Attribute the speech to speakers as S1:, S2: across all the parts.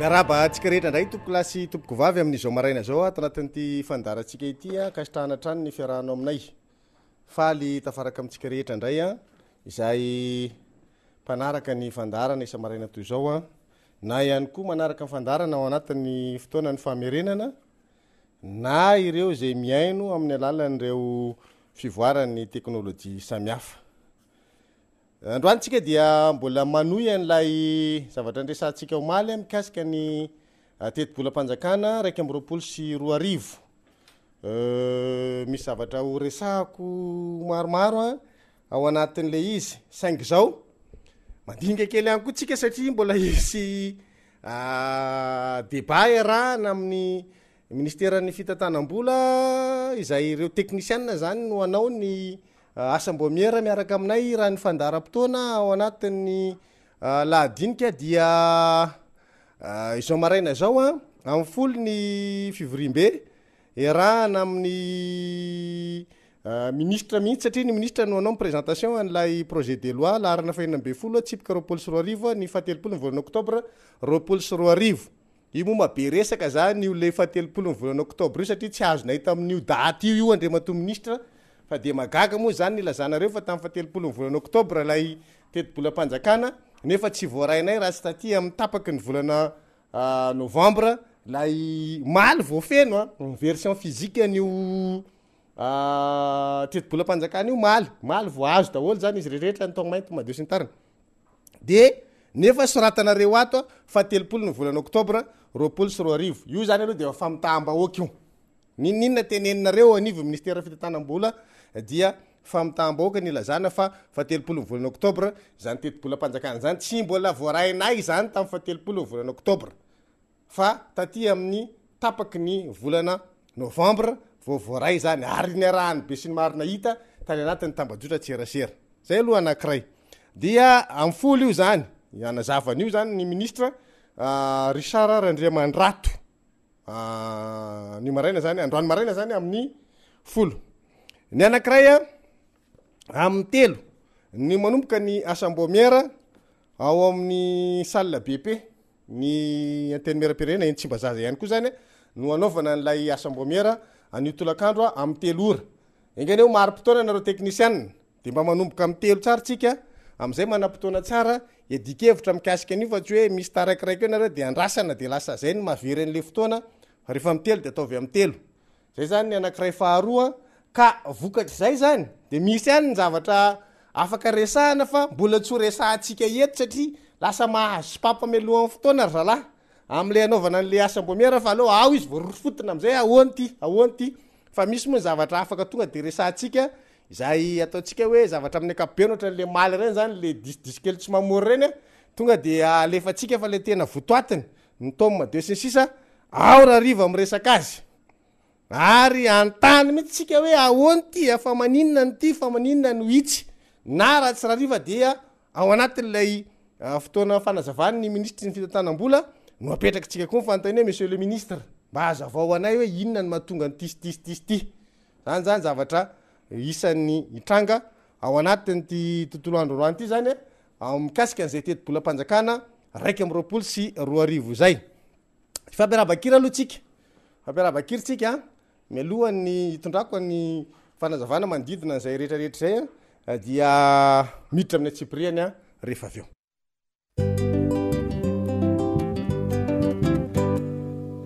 S1: Miarahaba antsika rehetra indray tompoko lahy sy tompoko vavy amin'izao maraina izao ato anatin'ity fandaharantsika ity ankasitrahana hatrany ny fiarahanao aminay. Faly tafaraka amintsika rehetra indray an, izay mpanaraka ny fandaharana isa-maraina toy izao an, na ihany koa manaraka ny fandaharana ao anatin'ny fotoanan'ny famerenana, na ireo izay mihaino amin'ny alalan'ireo fivoaran'ny teknolojia samihafa. Androany tsika dia mbola manohy an'ilay zavatra niresahantsika omaly mikasika ny tetibolam-panjakana iraika amby roapolo sy roa arivo. Misy zavatra ho resahako maromaro ao anatin'ilay izy. Saingy izao, mandinika kely ihany koa tsika satria mbola hisy deba iarahana amin'ny ministeran'ny fitantanam-bola izay ireo teknisianina izany no hanao ny Asa mbo miera miaraka aminay raha ny fandaharam-potoana ao anatin'ny lahadinika dia izao maraina izao a amin'ny folo ny fivoriambe erahana amin'ny ministra mihitsy satria ny ministra no anao ny présentation an'ilay projet de loi laharana fahenina ambin'ny folo tsipika roapolo sy roa arivo ny fahatelopolo ny voalohany oktobra roapolo sy roa arivo Io moa ma be resaka zany io le fahatelopolo ny volana octobre io satria tsy azo naita amin'io date io io Andriamatoa Ministra fa dia mahagaga moa zany nilazanareo fa tamin'ny fahatelopolo ny volana octobre ilay tetibolam-panjakana nefa tsy voarainay raha tsy taty amin'ny tapaky ny volana novembre ilay omaly voafeno a ny version physique an'io tetibolam-panjakana io omaly, omaly vao azo daholo zany izy rehetra ny taomainty madio sy ny tariny. dia nefa soratanareo ato fa telopolo ny volana oktobra roapolo sy roa arivo io zany aloha dia efa famitaham-bahoaka io n'inon'inona teneninareo ao anivon'ny ministera fitantanam-bola dia famitaham-bahoaka ny ilazana fa fahatelopolo ny volana oktobra izany tetibolam-panjakana izany tsy mbola voarainay izany tamin'ny fahatelopolo ny volana oktobra fa taty amin'ny tapaky ny volana novambra vao voaray izany ary niarahan'ny besinimaro nahita tany anatin'ny tambajotra an-tserasera. Izay aloha anankiray. Dia amin'ny folo io izany, hanazava an'io izany ny minisitra Richard Randriamandrato anio maraina izany, androany maraina izany amin'ny folo. Ny anankiray, amin'ny telo ny manomboka ny asambômiera ao amin'ny salle BP ny antenimieram-pirenena eny Tsimbazaza ihany koa izany no anaovana an'ilay asambômiera an'io tolakandro amin'ny telo ora. Enga anie ho mari-potoana ianareo teknisianina dia mba manomboka amin'ny telo tsara tsika amin'izay manam-potoana tsara hiadian-kevitra mikasika an'io fa tsy hoe misy taraikiraika eo ianareo dia andrasana dia lasa izay ny mahavery an'ilay fotoana fa rehefa amin'ny telo dia ataovy amin'ny telo. Izay izany ny anankiray faharoa ka vokatr'izay izany dia misy ihany ny zavatra afaka resahana fa mbola tsy ho resahantsika eto satria lasa mahazo sopam-pamelohan'ny fotoana ry zalahy amin'ilay hanaovana an'ilay asa ambomera fa aleo ao izy vao rosofotina amin'izay ahoana ity, ahoana ity. Fa misy moa ny zavatra afaka tonga dia resahantsika izay ataontsika hoe zavatra amin'ny ankapobeny ohatran'ilay maly ireny izany, ilay disdis kely tsy mamory ireny tonga dia alefantsika fa ilay tena votoatiny ny tom de sy ny sisa ao ra rivo am resaka azy ary antany mitsy tsika hoe ahoan ity a fa maninona ny ity fa maninona no itsy na raha tsy ra riva dia ao anatin lay fotoana fanazavan ny ministry ny fitantanam bola no apetraky tsika koa ny fanontaniana hoe monsieur le ministre mba azavao anay hoe inona ny mahatonga ny tisy tisy tisy ty zany zany zavatra isan ny hitranga ao anatin ty tontolo andro androany ity zany e Amin'ny mikasika an'izay tetibolam-panjakana iraika amby roapolo sy roa arivo izay. Hifampiarahaba kira aloha tsika. Hifampiarahaba kira tsika mialoha ny hitondrako ny fanazavana manodidina an'izay rehetrarehetra izay dia miditra amin'ny antsipiriany rehefa avy eo.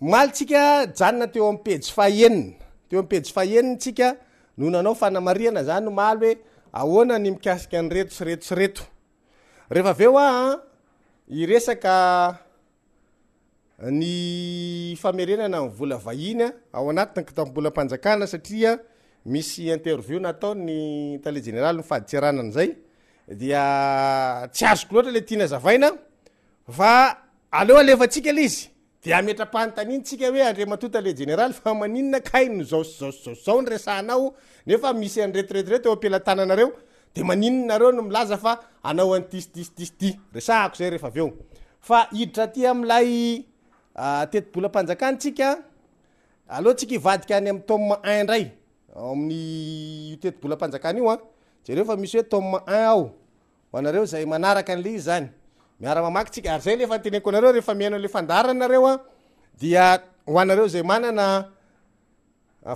S1: Omaly tsika janona teo amin'ny pejy fahenina. Teo amin'ny pejy fahenina tsika no nanao fanamarihana zany omaly hoe ahoana ny mikasika an'ireto sy reto sy reto. Rehefa avy eo aho hiresaka ny famerenana ny vola vahiny ao anatin'ny kitam-bolam-panjakana satria misy interview nataon'ny tale jeneralin'ny fadintseranana izay dia tsy azoko loatra ilay tiana zavaina. Fa aleo alefantsika le izy de ametra-panontaniana tsika hoe Andriamatoa Tale Jeneraly fa maninona kay no zao sy zao sy zao sy zao no resahanao nefa misy an'ireto reto reto eo am-pelatananareo de maninona nareo no milaza fa anao an'ity sy ty sy ty sy ty. Resahako zay rehefa avy eo. Fa hiditra aty amin'ilay tetibolam-panjakantsika, aleo tsika hivadika any amin'ny tome un indray ao amin'ny io tetibolam-panjakana io an. Jereo fa misy hoe tome un ao. Ho anareo izay manaraka an'le izy izany, miara mamaky tsika, ary izay nefa teneniko anareo rehefa mihaino an'le fandaharana nareo an, dia ho anareo izay manana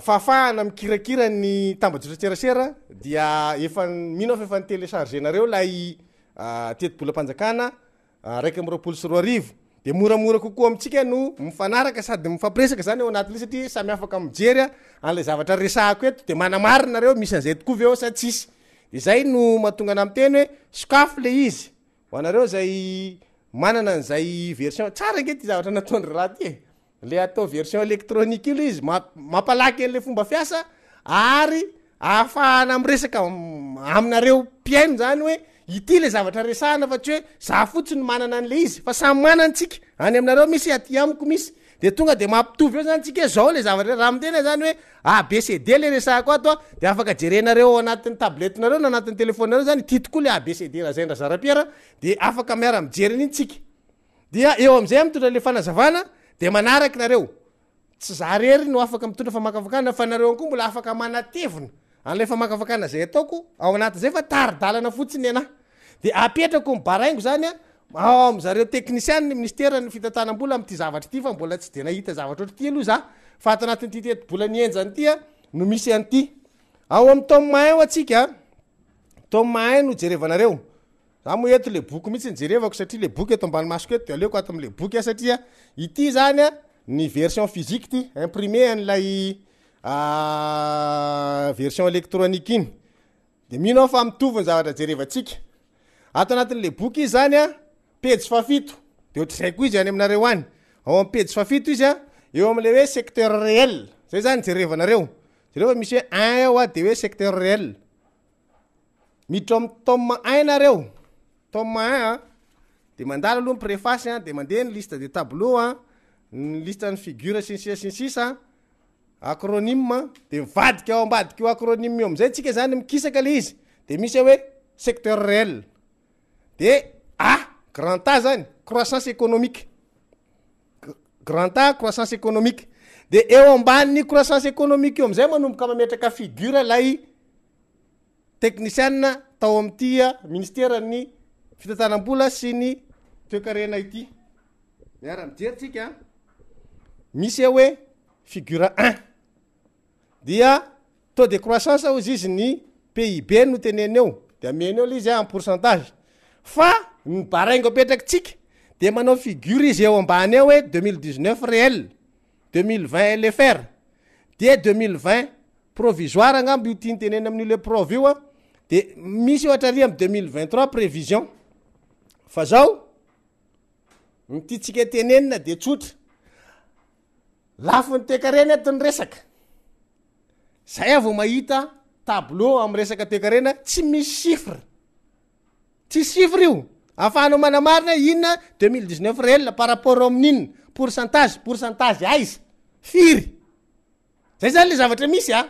S1: fahafahana mikirakira ny tambajotran-tserasera dia efa mino aho fa efa ni-telecharger-nareo ilay tetibolam-panjakana, iraika amby roapolo sy roa arivo dia moramora kokoa amintsika no mifanaraka sady mifampiresaka zany ao anatin'io satria samy afaka mijery an'ilay zavatra resahako eto dia manamarina nareo misy an'izay tokoa ve ao sa tsisy dia zay no mahatonga anah miteny hoe sokafy le izy ho anareo zay manana an'izay version tsara ange ty zavatra nataondry raha ty e Le atao version électronique io le izy mampalaky anle fomba fiasa ary ahafahana miresaka aminareo mpihaino zany hoe ity le zavatra resahana fa tsy hoe za fotsiny no manana anle izy fa samy manana ny tsika any aminareo misy aty amiko misy de tonga de mampitovy eo zany tsika hoe zao le zavatra raha mitena zany hoe ABCD le resahako ato a de afaka jerenareo ao anatin'ny tablette nareo na anatin'ny telephone nareo zany ity tokoa le ABCD lazaindrazaRapierre de afaka miara mijery an'iny tsika Dia eo amizay mitondra le fanazavana de manaraka nareo. Tsy za rery no afaka mitondra famakafakana fa nareo ihany koa mbola afaka manatevina an'ilay famakafakana zay ataoko ao anatin'izay fa tari-dalana fotsiny ny anah. De apetrako mibaraingo zany ao amizareo teknisian'ny minisiteran'ny fitantanam-bola amity zavatra ity fa mbola tsy de nahita zavatra ohatr'ity aloha za fa ato anatin'ity tetibola nihenjana ity no misy an'ity. Ao am tome un atsika, tome un no jerevanareo. Za moa eto le boky mihitsy no jerevako satria le boky eto ambany masoko eto de aleoko ato amle boky a satria ity zany a ny version physique ty imprime an'ilay version electronique iny de mino aho fa mitovy ny zavatra jerevantsika ato anatin'le boky izy zany a pejy fafito de ohatrizay koa izy any aminareo any ao am pejy fafito izy a eo amle hoe secteur réel zay zany jerevanareo jereo fa misy hoe un eo a de hoe secteur réel Miditra ao amin'ny tome 1 nareo. Tome 1 a. Dia mandalo aloha ny préface a, dia mandeha ny liste des tableaux a, ny liste ny figure sy ny sisa sy ny sisa. Acronyme a, dia mivadika ao ambadik'io acronyme io amin'izay tsika zany mikisaka le izy. Dia misy hoe secteur réel. Dia A, grand A zany, croissance économique. grand A, croissance économique. Dia eo ambanin'ny croissance économique eo amin'izay manomboka mametraka figure ilay teknisianina tao amin'ity ministeran'ny fitantanam-bola sy ny toekarena ity. Miara-mijery tsika. Misy eo hoe figure 1. Dia Taux de croissance hozy izy ny PIB no teneniny eo de amehiny eo le izy en pourcentage fa ny baraingo apetrakitsika de manao figure izy eo ambany eo hoe 2019 réel 2020 LFR dia 2020 provisoire angamba io tiany tenenina amin'io le prov io a de misy ohatra ary am 2023 prévision fa zao ny tiantsika tenenina de tsotra Lafiny toekarena eto ny resaka. Zay aho vao mahita tableau amin'ny resaka toekarena tsy misy chiffre. Tsy chiffre io. Afahanao manamarina inona 2019 réel par rapport amin'inona. Pourcentage, pourcentage aiza? Firy? Zay zany le zavatra misy a.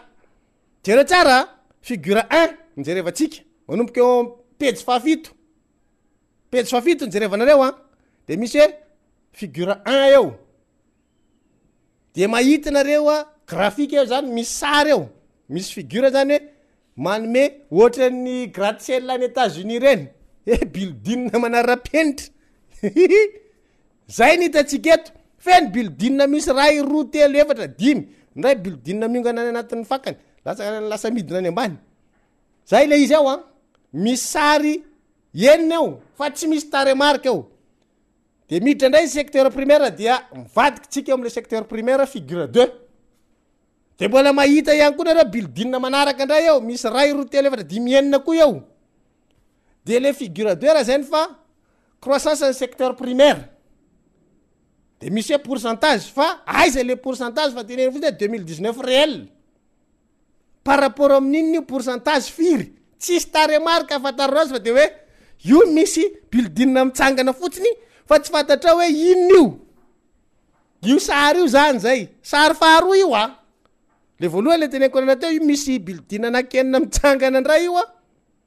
S1: Jereo tsara figure 1 mijerevantsika. Manomboka eo pejy fahafito Pejy fahafito ny jerevanareo an, dia misy hoe figure un eo, dia mahita nareo a graphique eo zany misy sary eo, misy figure zany hoe manome ohatran'ny gratte ciel any Etats Unis ireny, hoe building manarapenitra, hihi, zay ny hitantsika eto, feno building misy ray, roa, telo, efatra, dimy, ndray building miongana any anatin'ny fakany, latsaka lasa midina any ambany, Zay le izy ao an! Misy sary enina eo fa tsy misy taremark eo. Dia miditra indray ny secteur primaire dia mivadiky tsika eo amin'ilay secteur primaire figure deux. Dia mbola mahita ihany koa nareo building manaraka indray eo, misy iray, roa, telo, efatra, dimy, enina koa eo. Dia ilay figure deux raha izany fa croissance ny secteur primaire. Dia misy hoe pourcentage fa aiza ilay pourcentage fa teneno fotsiny hoe 2019 réel. Par rapport amin'inona io pourcentage firy? Tsisy tare marika ahafantarana azy fa de hoe io misy building mitsangana fotsiny fa tsy fantatrao hoe inona io. Io sary io zany zay. Sary faharoa io a. Le voalohany le teneniko anana teo io misy building anankienina mitsangana ndray io a.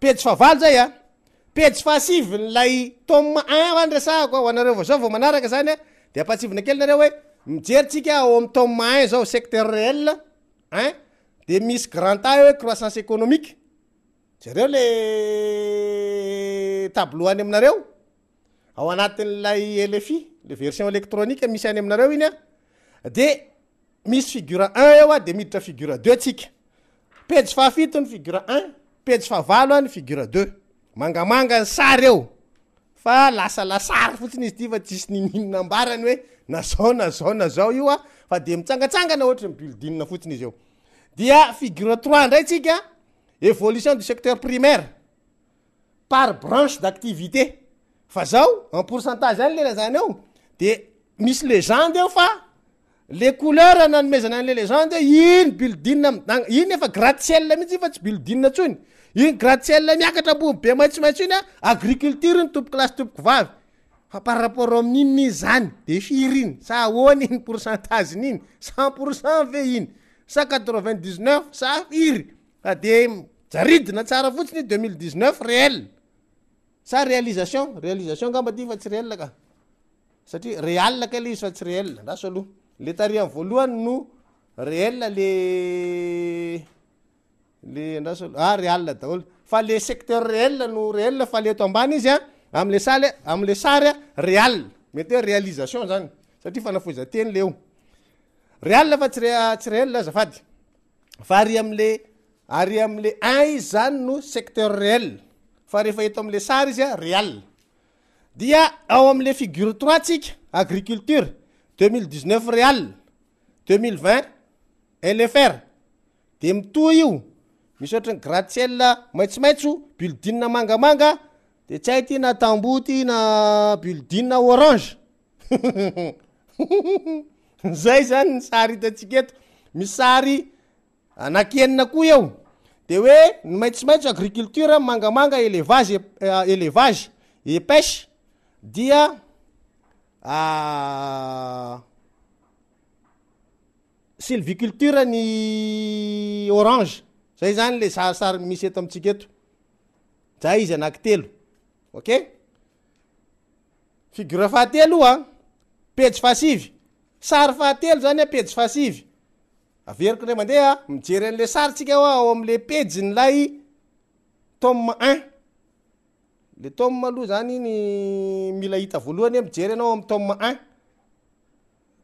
S1: Pejy fahavalo zay a. Pejy fahasivy n'ilay tome un va ny resahako a, ho anareo vao zao vao manaraka zany a, de ampahatsivina kely nareo hoe, mijery tsika ao am tome un zao secteur réel un de misy grand A eo hoe croissance économique, jereo le tableau any aminareo ao anatin'ilay LFI, le version électronique misy any aminareo iny a, de misy figure un eo a, de miditra figure deux tsika. Pejy fahafito ny figure un, pejy fahavalo a ny figure deux. Mangamanga ny sary eo, fa lasa lasary fotsiny izy ity fa tsisy ninininona ambarany hoe na zao na zao na zao io a, fa de mitsangatsangana ohatry ny building fotsiny izy eo. Dia figure trois ndray tsika, évolution du secteur primaire. par branche d'activité fa zao en pourcentage zany lela zany eo de misy legende eo fa le couleur nanomezana an'le legende iny building midanga iny efa gratte-ciel mihitsy iny fa tsy building intsony iny gratte-ciel miakatra ambony be maitsomaitso iny a agriculture ny tompoko lahy sy tompoko vavy fa par rapport amin'inona izy zany de firy iny sa ahoana iny pourcentage-ny iny cent pour cent ve iny sa quatre vingt dix neuf sa firy Ka de mijaridina tsara fotsiny io 2019 réel sa réalisation? Réalisation angamba ty fa tsy réel ka. Satria réal kay le izy fa tsy réel. Andraso aloha. Le tarihany voalohany no réel le le andraso aloha. Ah réal daholo. Fa le secteur réel no réel fa le eto ambany izy an amle sale amle sary an réal. Mety hoe réalisation zany satria fanafohezan-teny le eo. Réal fa tsy tsy réel azafady. Fa ary amle ary amle un izy zany no secteur réel fa rehefa eto amle sary izy a real. Dia ao amle figure 3 tsika agriculture 2019 real 2020 LFR de mitohy io misy ohatry ny gratte-ciel maitsomaitso building mangamanga de tsy hay ty na tamboho ty na building orange Zay zany ny sary hitantsika eto. Misy sary anankienina koa eo. Dia hoe ny maitsomaitso agriculture, mangamanga élevage, euh, élevage et pêche dia ah, sylviculture ny orange. Zay zany le sarisary misy eto amintsika eto. Zay izy anankitelo. Okay? Figure fahatelo a, pejy fahasivy, sary fahatelo zany a, pejy fahasivy. Averiko indray mandeha a, mijery an'ilay sary tsika hoa ao amin'ilay pejin'ilay tome un. Le tome aloha zany ny mila hita voalohany hoe mijery ianao amin'ny tome un,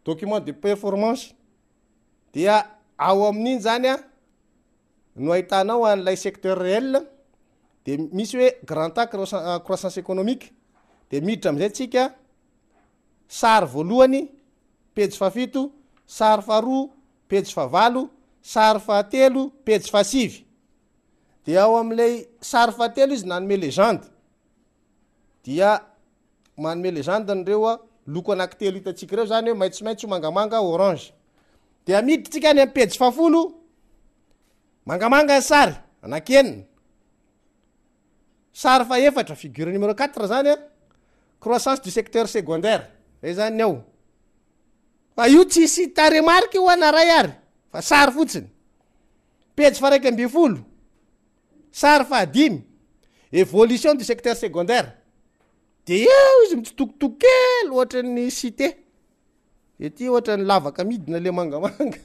S1: document de performance. Dia ao amin'iny zany a, no ahitanao an'ilay secteur réel dia misy hoe grand A croissance économique dia miditra amin'izay tsika sary voalohany pejy fafito sary faharoa pejy favalo sary fahatelo pejy fasivy dia ao amin'ilay sary fahatelo izy nanome legende dia manome légende an'ireo loko anankitelo hitantsika ireo zany hoe maitsomaitso mangamanga orange de amidintsika any am pejy fahafolo mangamanga ny sary anankienina sary fahefatra figure numéro 4 zany a croissance du secteur secondaire zay zany ny ao fa io tsisy hita remarque io ana ray ary fa sary fotsiny pejy faraika amby folo Sary fahadimy, Evolution du secteur secondaire, de eo izy mitsitokotoko kely ohatry ny cité, ety ohatry ny lavaka midina le mangamanga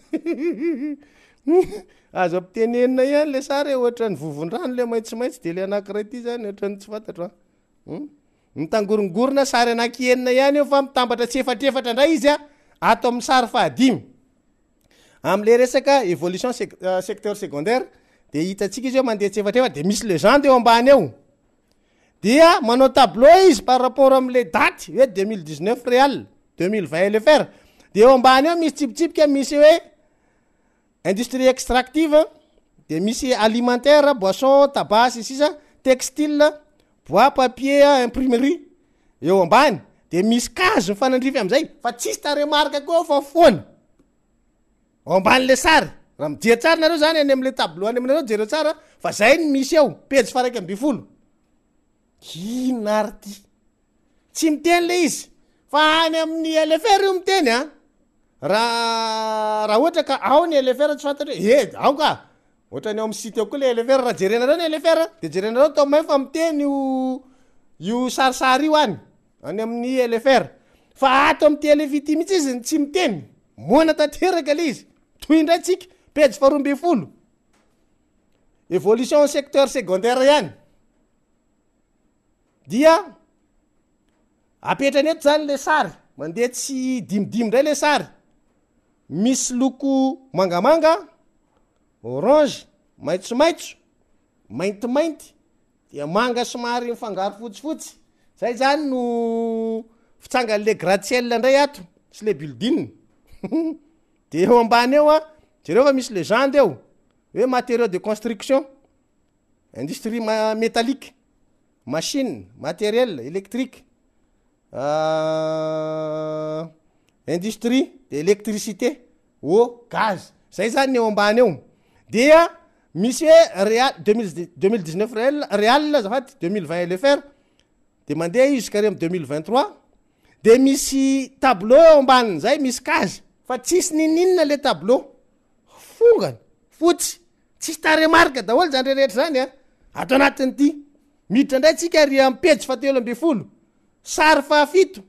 S1: azo ampitenenina ihany le sary e, ohatry ny vovondrano le maitsomaitso, de le anankiray ty zany ohatry ny tsy fantatro an. Hmm? mitangorongorona sary anankienina ihany eo fa mitambatra tsy efatrefatra indray izy a ato amin'ny sary fahadimy Amle resaka evolution euh, secteur secondaire de hitantsika izy hoe mandeha tsy efatrefatra de misy legende eo ambany eo dia manao tableau izy par rapport amle daty hoe deux mille dix neuf real deux mille vingt lfr de eo ambany eo misy tsipitsipika misy hoe industrie extractive de misy alimentaire boisson tabas sy sisa textile bois papier imprimerie Eo ambany dia misy kazo mifanandrify amin'izay fa tsisy tarehimarika koa ao fa foana. Ao ambanin'ilay sary, raha mijery tsara nareo zany any amin'ilay tableau any aminareo jereo tsara fa zay ny misy eo, pejy faraika ambin'ny folo. Inona ary ty? Tsy miteny le izy fa any amin'ny LFR io miteny a. Raha raha ohatra ka ao ny LFR tsy fantatro hoe eh, ao ka. Ohatrany ao amin'ny site ao koa le LFR raha jerenareo ny LFR de jerenareo tao main fa miteny io io sarisary io any any amin'ny LFR fa ato amin'ity LFI ity mihitsy izy no tsy miteny moana tanteraka le izy toy indray tsika pejy faharoa ambin'ny folo évolution secteur secondaire ihany Dia apetrany eto zany le sary, mandeha tsy dimy dimy ndray le sary, misy loko mangamanga, orange, maitsomaitso, maintimainty, dia manga somary mifangaro fotsifotsy, zay zany no fitsangan'le gratte-ciel ndray ato sy le building de eo ambany eo an, jereo fa misy legende eo hoe matériaux de construction. Industrie ma metallique, machine, materiel, electrique, industrie de electricité, eau, gaz, zay zany ny eo ambany eo. Dia misy hoe real 2019 real real azafady 2020 LFR de mandeha izy jusqu'à 2023 de misy tableau eo ambanin'izay misy kazy fa tsisy nininona le tableau fongany fotsy Tsisy tarehy marika daholo zany rehetra zany a! Ato anatin'ity. Miditra ndray tsika ary amin'ny pejy fahatelo ambin'ny folo. Sary fahafito.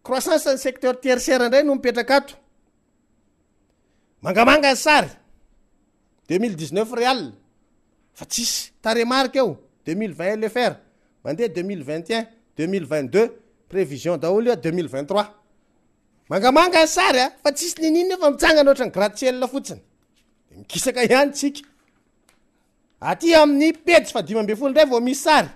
S1: Croissance ny secteur tertiaire ndray no mipetraka ato. Mangamanga ny sary. 2019 real. Fa tsisy tarehy marika eo. 2020 LFR. Mandeha 2021, 2022. Prévision daholo eo 2023. Mangamanga ny sary a, fa tsisy ninin nefa mitsangana ohatran'ny gratte-ciel fotsiny. Dia mikisaka ihany tsika. Aty amin'ny pejy fa dimy ambin'ny folo indray vao misy sary.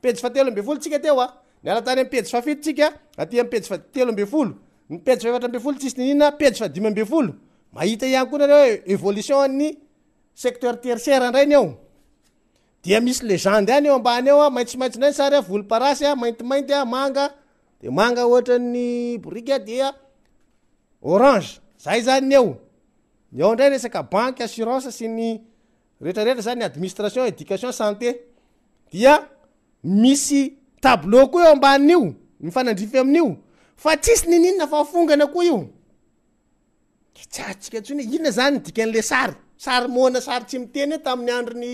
S1: Pejy fa telo ambin'ny folo tsika teo a. Niala tany amin'ny pejy fa fito tsika, aty amin'ny pejy fa telo ambin'ny folo. Ny pejy fa efatra ambin'ny folo tsisy niniana, pejy fa dimy ambin'ny folo. Mahita ihany koa nareo hoe évolution an'ny secteur tertiaire indray ny ao. Dia misy legende any eo ambany eo a, maitsomaitso indray ny sary a, volomparasy a, maintimainty a, manga. de manga ohatran'ny borika dia orange zay zany ny eo ny ao indray resaka banky assurance sy ny rehetrarehetra zany administration éducation santé dia misy tableau koa eo ambanin'io mifanandrify amin'io fa tsisy ny ninona fa fongana koa io tsy atsika ntsony inona zany dikan'le sary sary moana sary tsy miteny eo tamin'ny andron'ny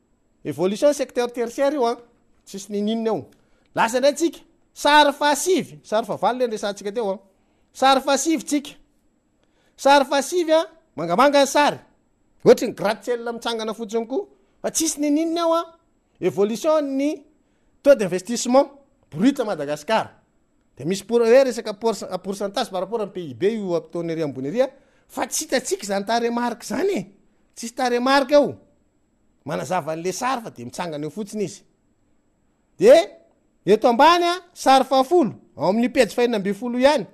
S1: Evolution secteur tertiaire io an! Tsisy nininon eo. Lasa indray tsika. Sary fahasivy, sary fahavalo le niresahantsika teo an! Sary fahasivy tsika. Sary fahasivy an! Mangamanga ny sary. Ohatry ny gratte-ciel mitsangana fotsiny koa. Fa tsisy nininon eo an! Evolution ny taux d'investissement brut Madagascar. Dia misy por hoe resaka por en pourcentage par rapport am PIB io ataony ery ambony ery an! Fa tsy hitantsika izany taremarque izany e! Tsisy taremarque eo. manazava an'le sary fa de mitsangana eo fotsiny izy de eto ambany a sary fahafolo ao amin'ny pejy fahina ambin'ny folo ihany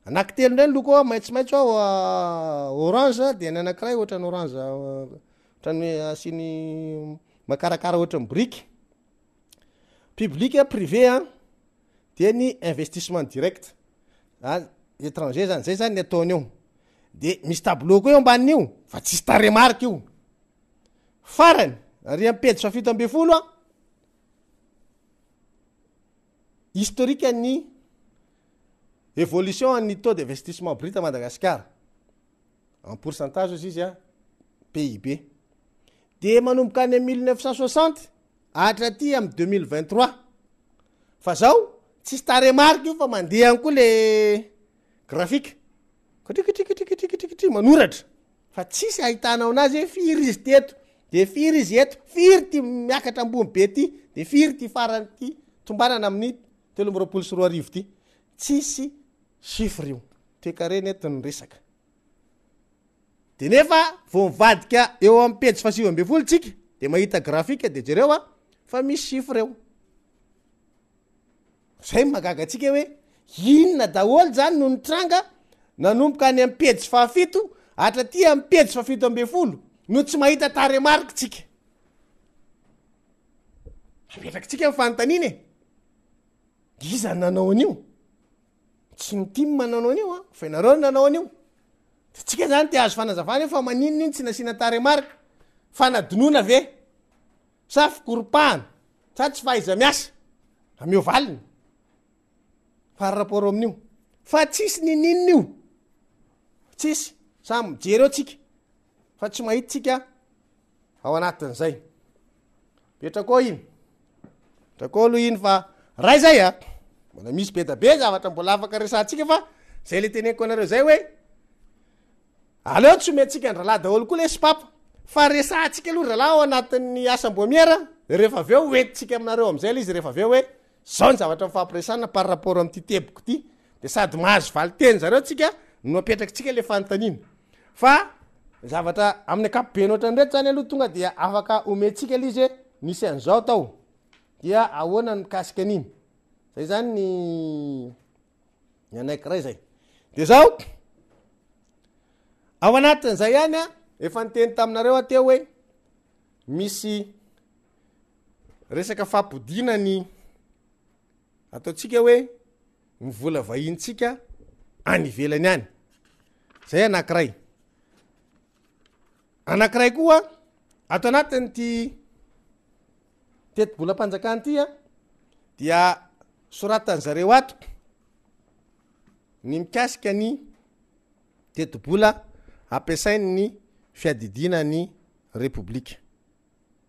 S1: anankitelo indray ny loko ao maitsomaitso ao orange de ny anankiray ohatran'ny orange ohatran'ny hoe asiany makarakara ohatran'ny biriky Public a privé a dia ny investissement direct a étranger zany zay zany ny ataony eo de misy tableau koa eo ambanin'io fa tsisy taremarika io farany ary am pejy fahafito ambe folo a historique an'ny évolution an'ny taux d'investissement brut à Madagascar en pourcentage izy izy a PIB de manomboka any 1960 Atra aty am deux mille vingt trois fa zao tsisy tarehimarika io fa mandeha any koa le graphique katrikatrikatrikatrikatrikatri manoratra fa tsisy ahitanao anazy hoe firy izy teto de firy izy eto firy ty miakatra ambony be ty de firy ty farany ty tombanana amin'ny telo amby roapolo sy roa arivo ty tsisy chiffre io toekarena eto ny resaka Dia nefa vao mivadika eo amin'ny pejy fahasivy ambin'ny folo tsika dia mahita graphique dia jereo a fa misy chiffre eo. Zay magaga tsika hoe inona daholo zany no nitranga nanomboka any amin'ny pejy fahafito hatra aty amin'ny pejy fahafito ambin'ny folo no tsy mahita tare marque tsika. Apetraky tsika ny fanontaniana e. Iza nanao an'io? Tsy ny tim nanao an'io an, fa ianareo no nanao an'io. Dia tsika zany te hahazo fanazavana io fa maninona iny tsy nasiana tarehimarika? Fanadinoana ve? Sa fikoropahana? Sa tsy fahaiza-miasa? Ameo valiny par rapport amin'io. Fa tsisy nininona io. Tsisy. Samy mijery eo tsika. Fa tsy mahita tsika ao anatin'izay. Be trakô iny. Trakô aloha iny fa ray zay a. Mbola misy be da be zavatra mbola afaka resahantsika fa zay le teneniko anareo zay hoe aleo tsy omentsika an-dralahy daholo koa le sipapa fa resahantsika aloha ralahy ao anatin'ny asam-boamiera rehefa avy eo hoentintsika aminareo amizay le izy rehefa avy eo hoe Zao ny zavatra nifampiresahana par rapport amin'ity tebiko ity dia sady mahazo valin-teny zareo tsika no apetrakitsika ilay fanontaniana fa ny zavatra amin'ny ankapobeny ohatran'ireto zany aloha tonga dia afaka omentsika ilay izy hoe nisy an'izao tao dia ahoana ny mikasika an'iny zay zany ny ny anankiray zay dia zao ao anatin'izay ihany a efa niteny taminareo aho teo hoe misy Resaka fampodiana ny ataontsika hoe ny vola vahinintsika any ivelany any. Zay anankiray. Anankiray koa ato anatin'ity teti-bolam-panjakana ity a dia soratan'ny zareo ato ny mikasika ny teti-bola ampiasain'ny fiadidiana ny repoblika.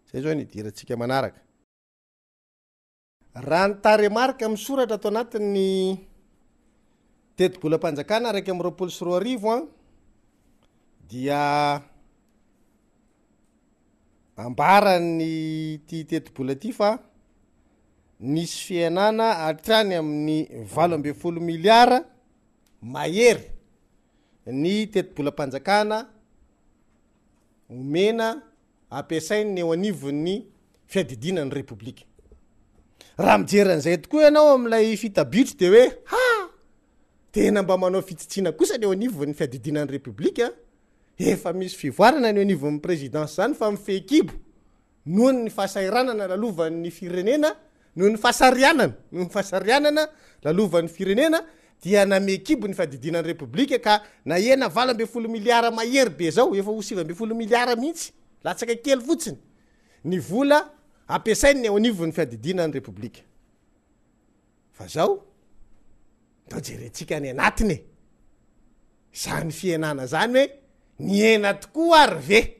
S1: Izay izao no hidirantsika manaraka. Raha ny tarehimarika misoratra ato anatin'ny tetibolam-panjakana iraika amby roapolo sy roa arivo an, dia ambaran'ny ity tetibola ity fa nisy fihenana hatrany amin'ny valo ambin'ny folo miliara mahery ny tetibolam-panjakana Omena ampiasain' ny eo anivon' ny Fiadidiana ny Repoblika. Raha mijery an' izay tokoa ianao amin' ilay fita-bitro dia hoe ha! tena mba manao fitsitsiana kosa ny eo anivon' ny Fiadidiana ny Repoblika an! Efa misy fivoarana ny eo anivon' ny Prezidansa izany fa mifehy kibo. noho ny fahasahiranana lalovan'ny firenena, noho ny fahasarianana, noho ny fahasarianana lalovan'ny firenena, dia namehy kibo ny fadidiana ny Repoblika ka nahena valo ambin'ny folo miliara mahery be izao, efa ho sivy ambin'ny folo miliara mihitsy, latsaka kely fotsiny, ny vola ampiasainy eo anivon'ny fiadidiana ny Repoblika. Fa zao ndao jerentsika any anatiny e! Zany fihenana zany hoe nihena tokoa ary ve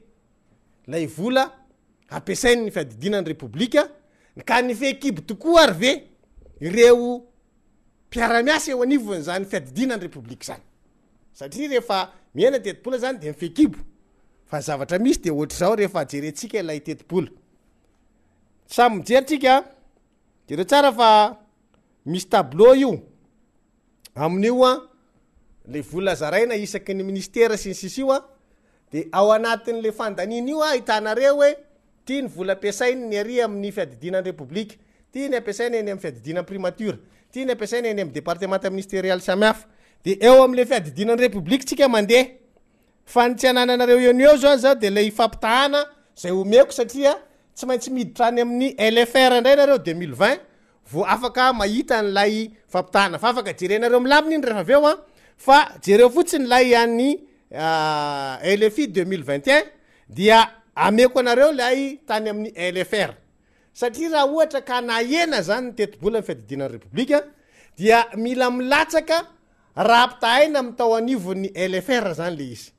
S1: lay vola ampiasain ny fiadidiana ny repoblika ka ny fehikibo tokoa ary ve ireo mpiaramiasa eo anivon zany fiadidiana ny repoblika zany? Satria rehefa mihena tetibola zany de ny fehikibo fa ny zavatra misy de ohatr'izao rehefa jerentsika ilay tetibola. Samy mijery tsika Jereo tsara fa misy tableau io amin'io a le vola zaraina isaky ny ministera sy ny sisy io a de ao anatin'le fandaniana io a hitanareo hoe ty ny vola ampiasainy ny ary amin'ny fiadidiana ny repoblika ty ny ampiasaina eny amin'ny fiadidiana primature ty ny ampiasaina eny amin'ny departemanta ministerialy samihafa de eo amin'le fiadidiana ny repoblika tsika mandeha Fa ny tsy anananareo eo no eo izao izao dia ilay fampitahana izay omeko satria tsy maintsy miditra any amin'ny LFR indray nareo deux mille vingt vao afaka mahita an'ilay fampitahana fa afaka jerenareo milamina iny rehefa avy eo an! Fa jereo fotsiny ilay an'ny LFI deux mille vingt et un dia ameko anareo ilay tany amin'ny LFR. Satria raha ohatra ka nahena izany ny tetibola ny fiadidiana ny Repoblika dia mila milatsaka Raha ampitahaina amin'ny tao anivon'ny LFR izany ilay izy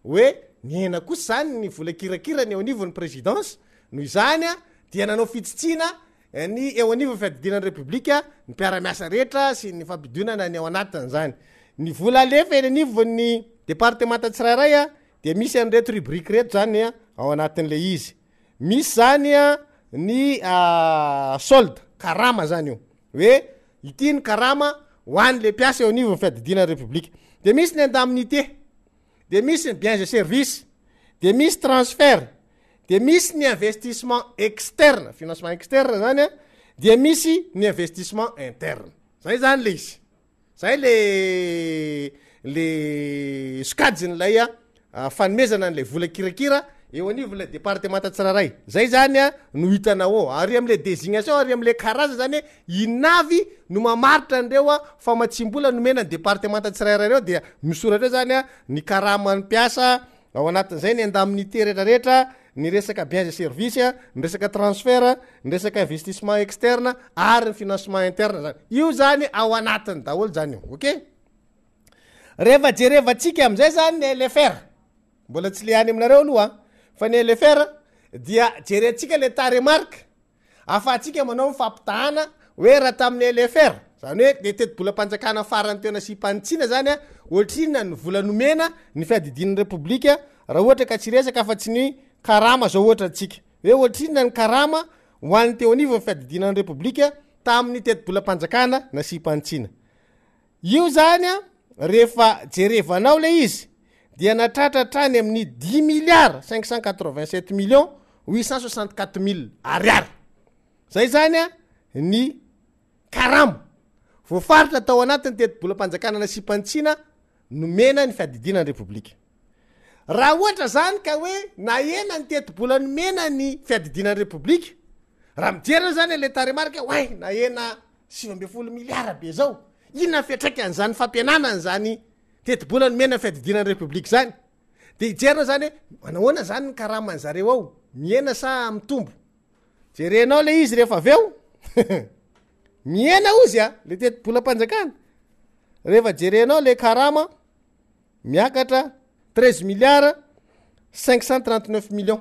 S1: hoe nihena kosa izany ny vola kirakirany eo anivon'ny Présidence, noho izany dia nanao fitsitsiana ny eo anivon'ny fiadidiana ny Repoblika ny mpiara-miasa rehetra sy ny fampidonana ny ao anatiny izany. Ny vola alefa eny anivon'ny Departemanta tsirairay dia misy an'ireto rubrique ireto izany ao anatin'ilay izy. Misy zany a ny solde, karama zany io, hoe ity ny karama ho any le mpiasa eo anivon'ny fiadidiana ny Repoblika. De misy ny indemnité, de misy ny biens et services, de misy transfert, de misy ny investissement externe, financement externe zany a, dia misy ny investissement interne. Zay zany le izy. Zay le le sokajin'ilay a fanomezana an'ilay vola kirakira eo anivon'ilay departemanta tsirairay zay zany a no hitana ao ary am'le désignation ary am'le karazana zany hoe inona avy no mamaritra an'ireo a famatsiam-bola nomena ny departemanta tsirairay ireo dia misoratra eo zany a ny karaman'ny mpiasa Ao anatin'izay ny indemnité rehetra rehetra, ny resaka biens et services, ny resaka transfert, ny resaka investissement externe ary ny financement interne zany. Io zany ao anatiny daholo zany io. Ok? Rehefa jerevantsika amin'izay zany ny LFR, mbola tsy le any aminareo aloha, fa ny LFR dia jerentsika le taremark Ahafahantsika manao ny fampitahana hoe raha tamin'ny LFR, izany hoe ny tetibolam-panjakana farany teo nasiam-panitsiana izany a, ohatrinona ny vola nomena ny fiadidian'ny Repoblika raha ohatra ka tsy resaka afa-tsy ny karama izao ohatra antsika. Hoe ohatrinona ny karama ho an'ny teo anivon'ny fiadidiana ny Repoblika tamin'ny tetibolam-panjakana nasiam-panitsiana. Io zany a, rehefa jerevanao ilay izy dia natratra hatrany amin'ny dix milliards cinq cent quatre-vingt-sept millions huit cent soixante-quatre mille ariary. Zay zany a ny karama voafaritra tao anatin'ny tetibolam-panjakana nasiam-panitsiana nomena ny fiadidiana ny Repoblika. Raha ohatra zany ka hoe nahena ny tetibola nomena ny fiadidiana ny Repoblika, raha mijery zany ilay tarehimarika, oay nahena sivy ambin'ny folo miliara be zao inona ny fiatraikany zany fampianana an'zany tetibola ny mena fiadidiana ny repoblika zany de hijerina zany hoe manahoana zany ny karamany zareo ao mihena sa mitombo jerenao le izy rehefa avy eo mihena ozy a le tetibolam-panjakana rehefa jerenao le karama miakatra treize miliara cinq cent trente neuf millions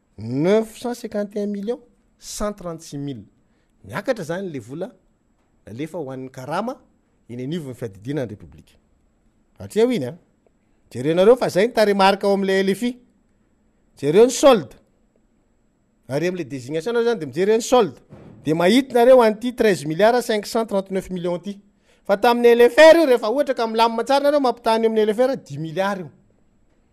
S1: Neuf cent cinquante et un millions cent trente six mille. Miakatra izany ilay vola nalefa ho an'ny karama eny anivon'ny fiadidiana ny Repoblika. Hatreho iny a. Jerenareo fa izay ny taremarika ao amin'ilay LFI. Jereo ny solde. Ary amin'ilay désignation nareo izany dia mijery ny solde. Dia mahita nareo an'ity treize milliards cinq cent trente neuf millions ity. Fa tamin'ny LFR io rehefa ohatra ka milamina tsara nareo mampitany eo amin'ny LFR dix milliards io.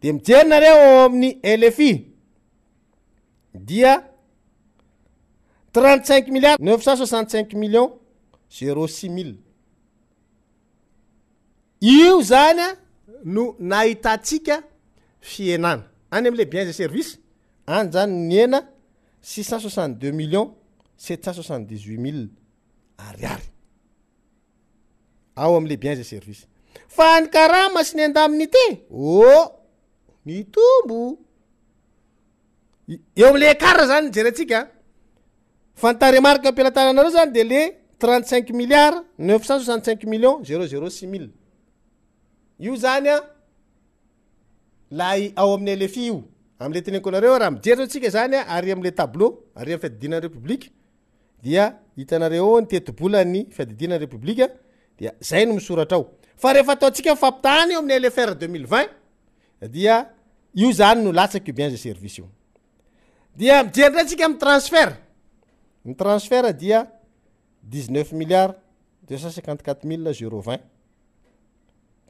S1: dia mijery nareo ao amin'ny LFI dia 35 milliards 965 millions zéro six mille io zany a no nahitantsika fihenana any am'le biens et services any zany nihena six cent soixante deux millions sept cent soixante dix huit mille ariary ao amin'le biens et services. Fa ny karama sy ny indemnité, oh, mitombo. Eo amin'le écart zany jerentsika. Fa ny taremarque am-pelatananareo zany de le 35 milliards 965 millions 006 mille. Io zany a lay ao amin'ny LFI io. Amin'le teneniko anareo raha mijery zao tsika zany a ary amin'le tableau ary amin'ny fitadidiana ny République dia hitanareo eo ny tetibolan'ny fiadidiana ny Repoblika dia zay no misoratra ao fa rehefa ataontsika fampitahana eo amin'ny LFR 2020 dia io zany no latsaka io biens et services io dia mijery indray tsika amin'ny transfert ny transfert dia 19 milliards 254 mille zero 20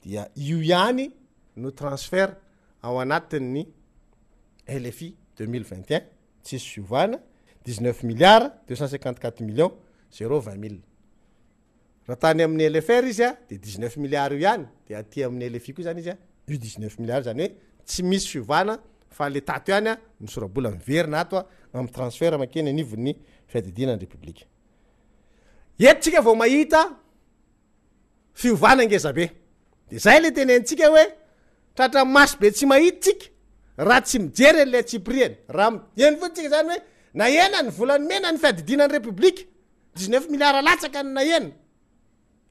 S1: dia io ihany no transfert ao anatin'ny LFI 2021 tsisy fiovana 19 milliards 254 millions 0 20 mille raha tany amin'ny LFR izy a dia 19 milliards io ihany dia aty amin'ny LFI koa izany izy a io 19 milliards izany hoe tsy misy fiovana fa le tato ihany a misorabola miverina ato a amin'ny transfert mankeny anivon'ny fiadidiana ny repoblika eto tsika vao mahita fiovana ngeza be de zay le tenentsika hoe tratra maso be tsy mahita tsika raha tsy mijery an'ilay antsipirihany raha mieny foana tsika zany hoe nahena ny volany mena ny fiadidiana ny repoblika dix-neuf milliards latsaka ny nahena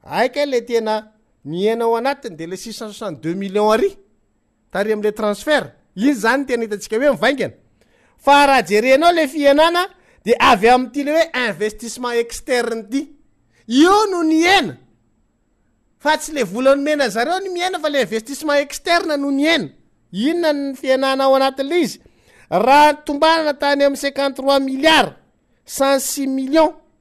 S1: aika le tena mihena ao anatiny de le six cent soixante deux millions ary tary am le transfer iny zany ny tena hitantsika hoe mivaingana fa raha jerenao le fihenana de avy amty le hoe investissement externe ity io no nihena fa tsy le vola nomena zareo ny mihena fa le investissement externe no nihena inona ny fihenana ao anatin'le izy raha tombanana tany am cinquante trois milliard cent six millions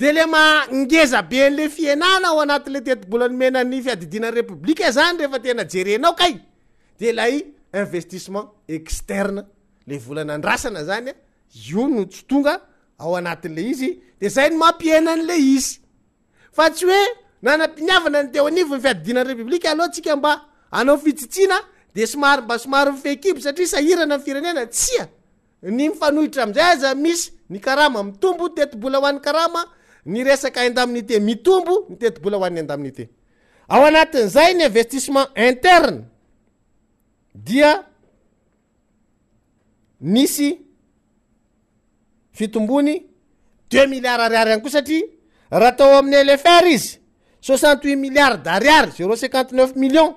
S1: Dia le ma ngeza be an'le fihenana ao anatin'le tetibolan'ny menan'ny fiadidiana ny Repoblika zany rehefa tena jerenao kay! Dia lay investissement externe, le vola nandrasana zany a, io no tsy tonga ao anatin'le izy, dia zay no mampihena an'le izy. Fa tsy hoe nanam-piniavana ny teo anivon'ny fiadidiana ny Repoblika aloha tsika mba hanao fitsitsiana dia somary mba somary mifehy kibo satria sahirana ny firenena, tsia! Ny mifanohitra amin'izay aza misy ny karama mitombo, tetibola ho an'ny karama, ny resaka indemnité mitombo, ny tetibola ho an'ny indemnité. Ao anatin'izay ny investissement interne dia nisy fitombony deux milliards ariary ihany koa satria raha tao amin'ny LFR izy soixante huit milliards d'ariary, zero cinquante neuf millions,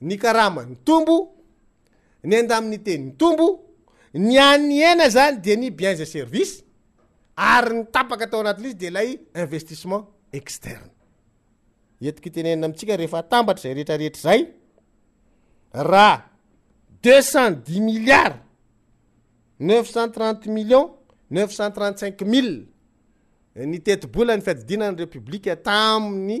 S1: Ny karama nitombo, ny indemnité nitombo, ny an'ny aina izany dia ny biens et services ary ny tapaka tao anatin'izy dia ilay investissement externe. Entiko itenenana amintsika rehefa atambatra izay rehetra rehetra izay, raha 210 milliards 930 millions 935 mille ny tetibola ny fiadidiana ny Repoblika tamin'ny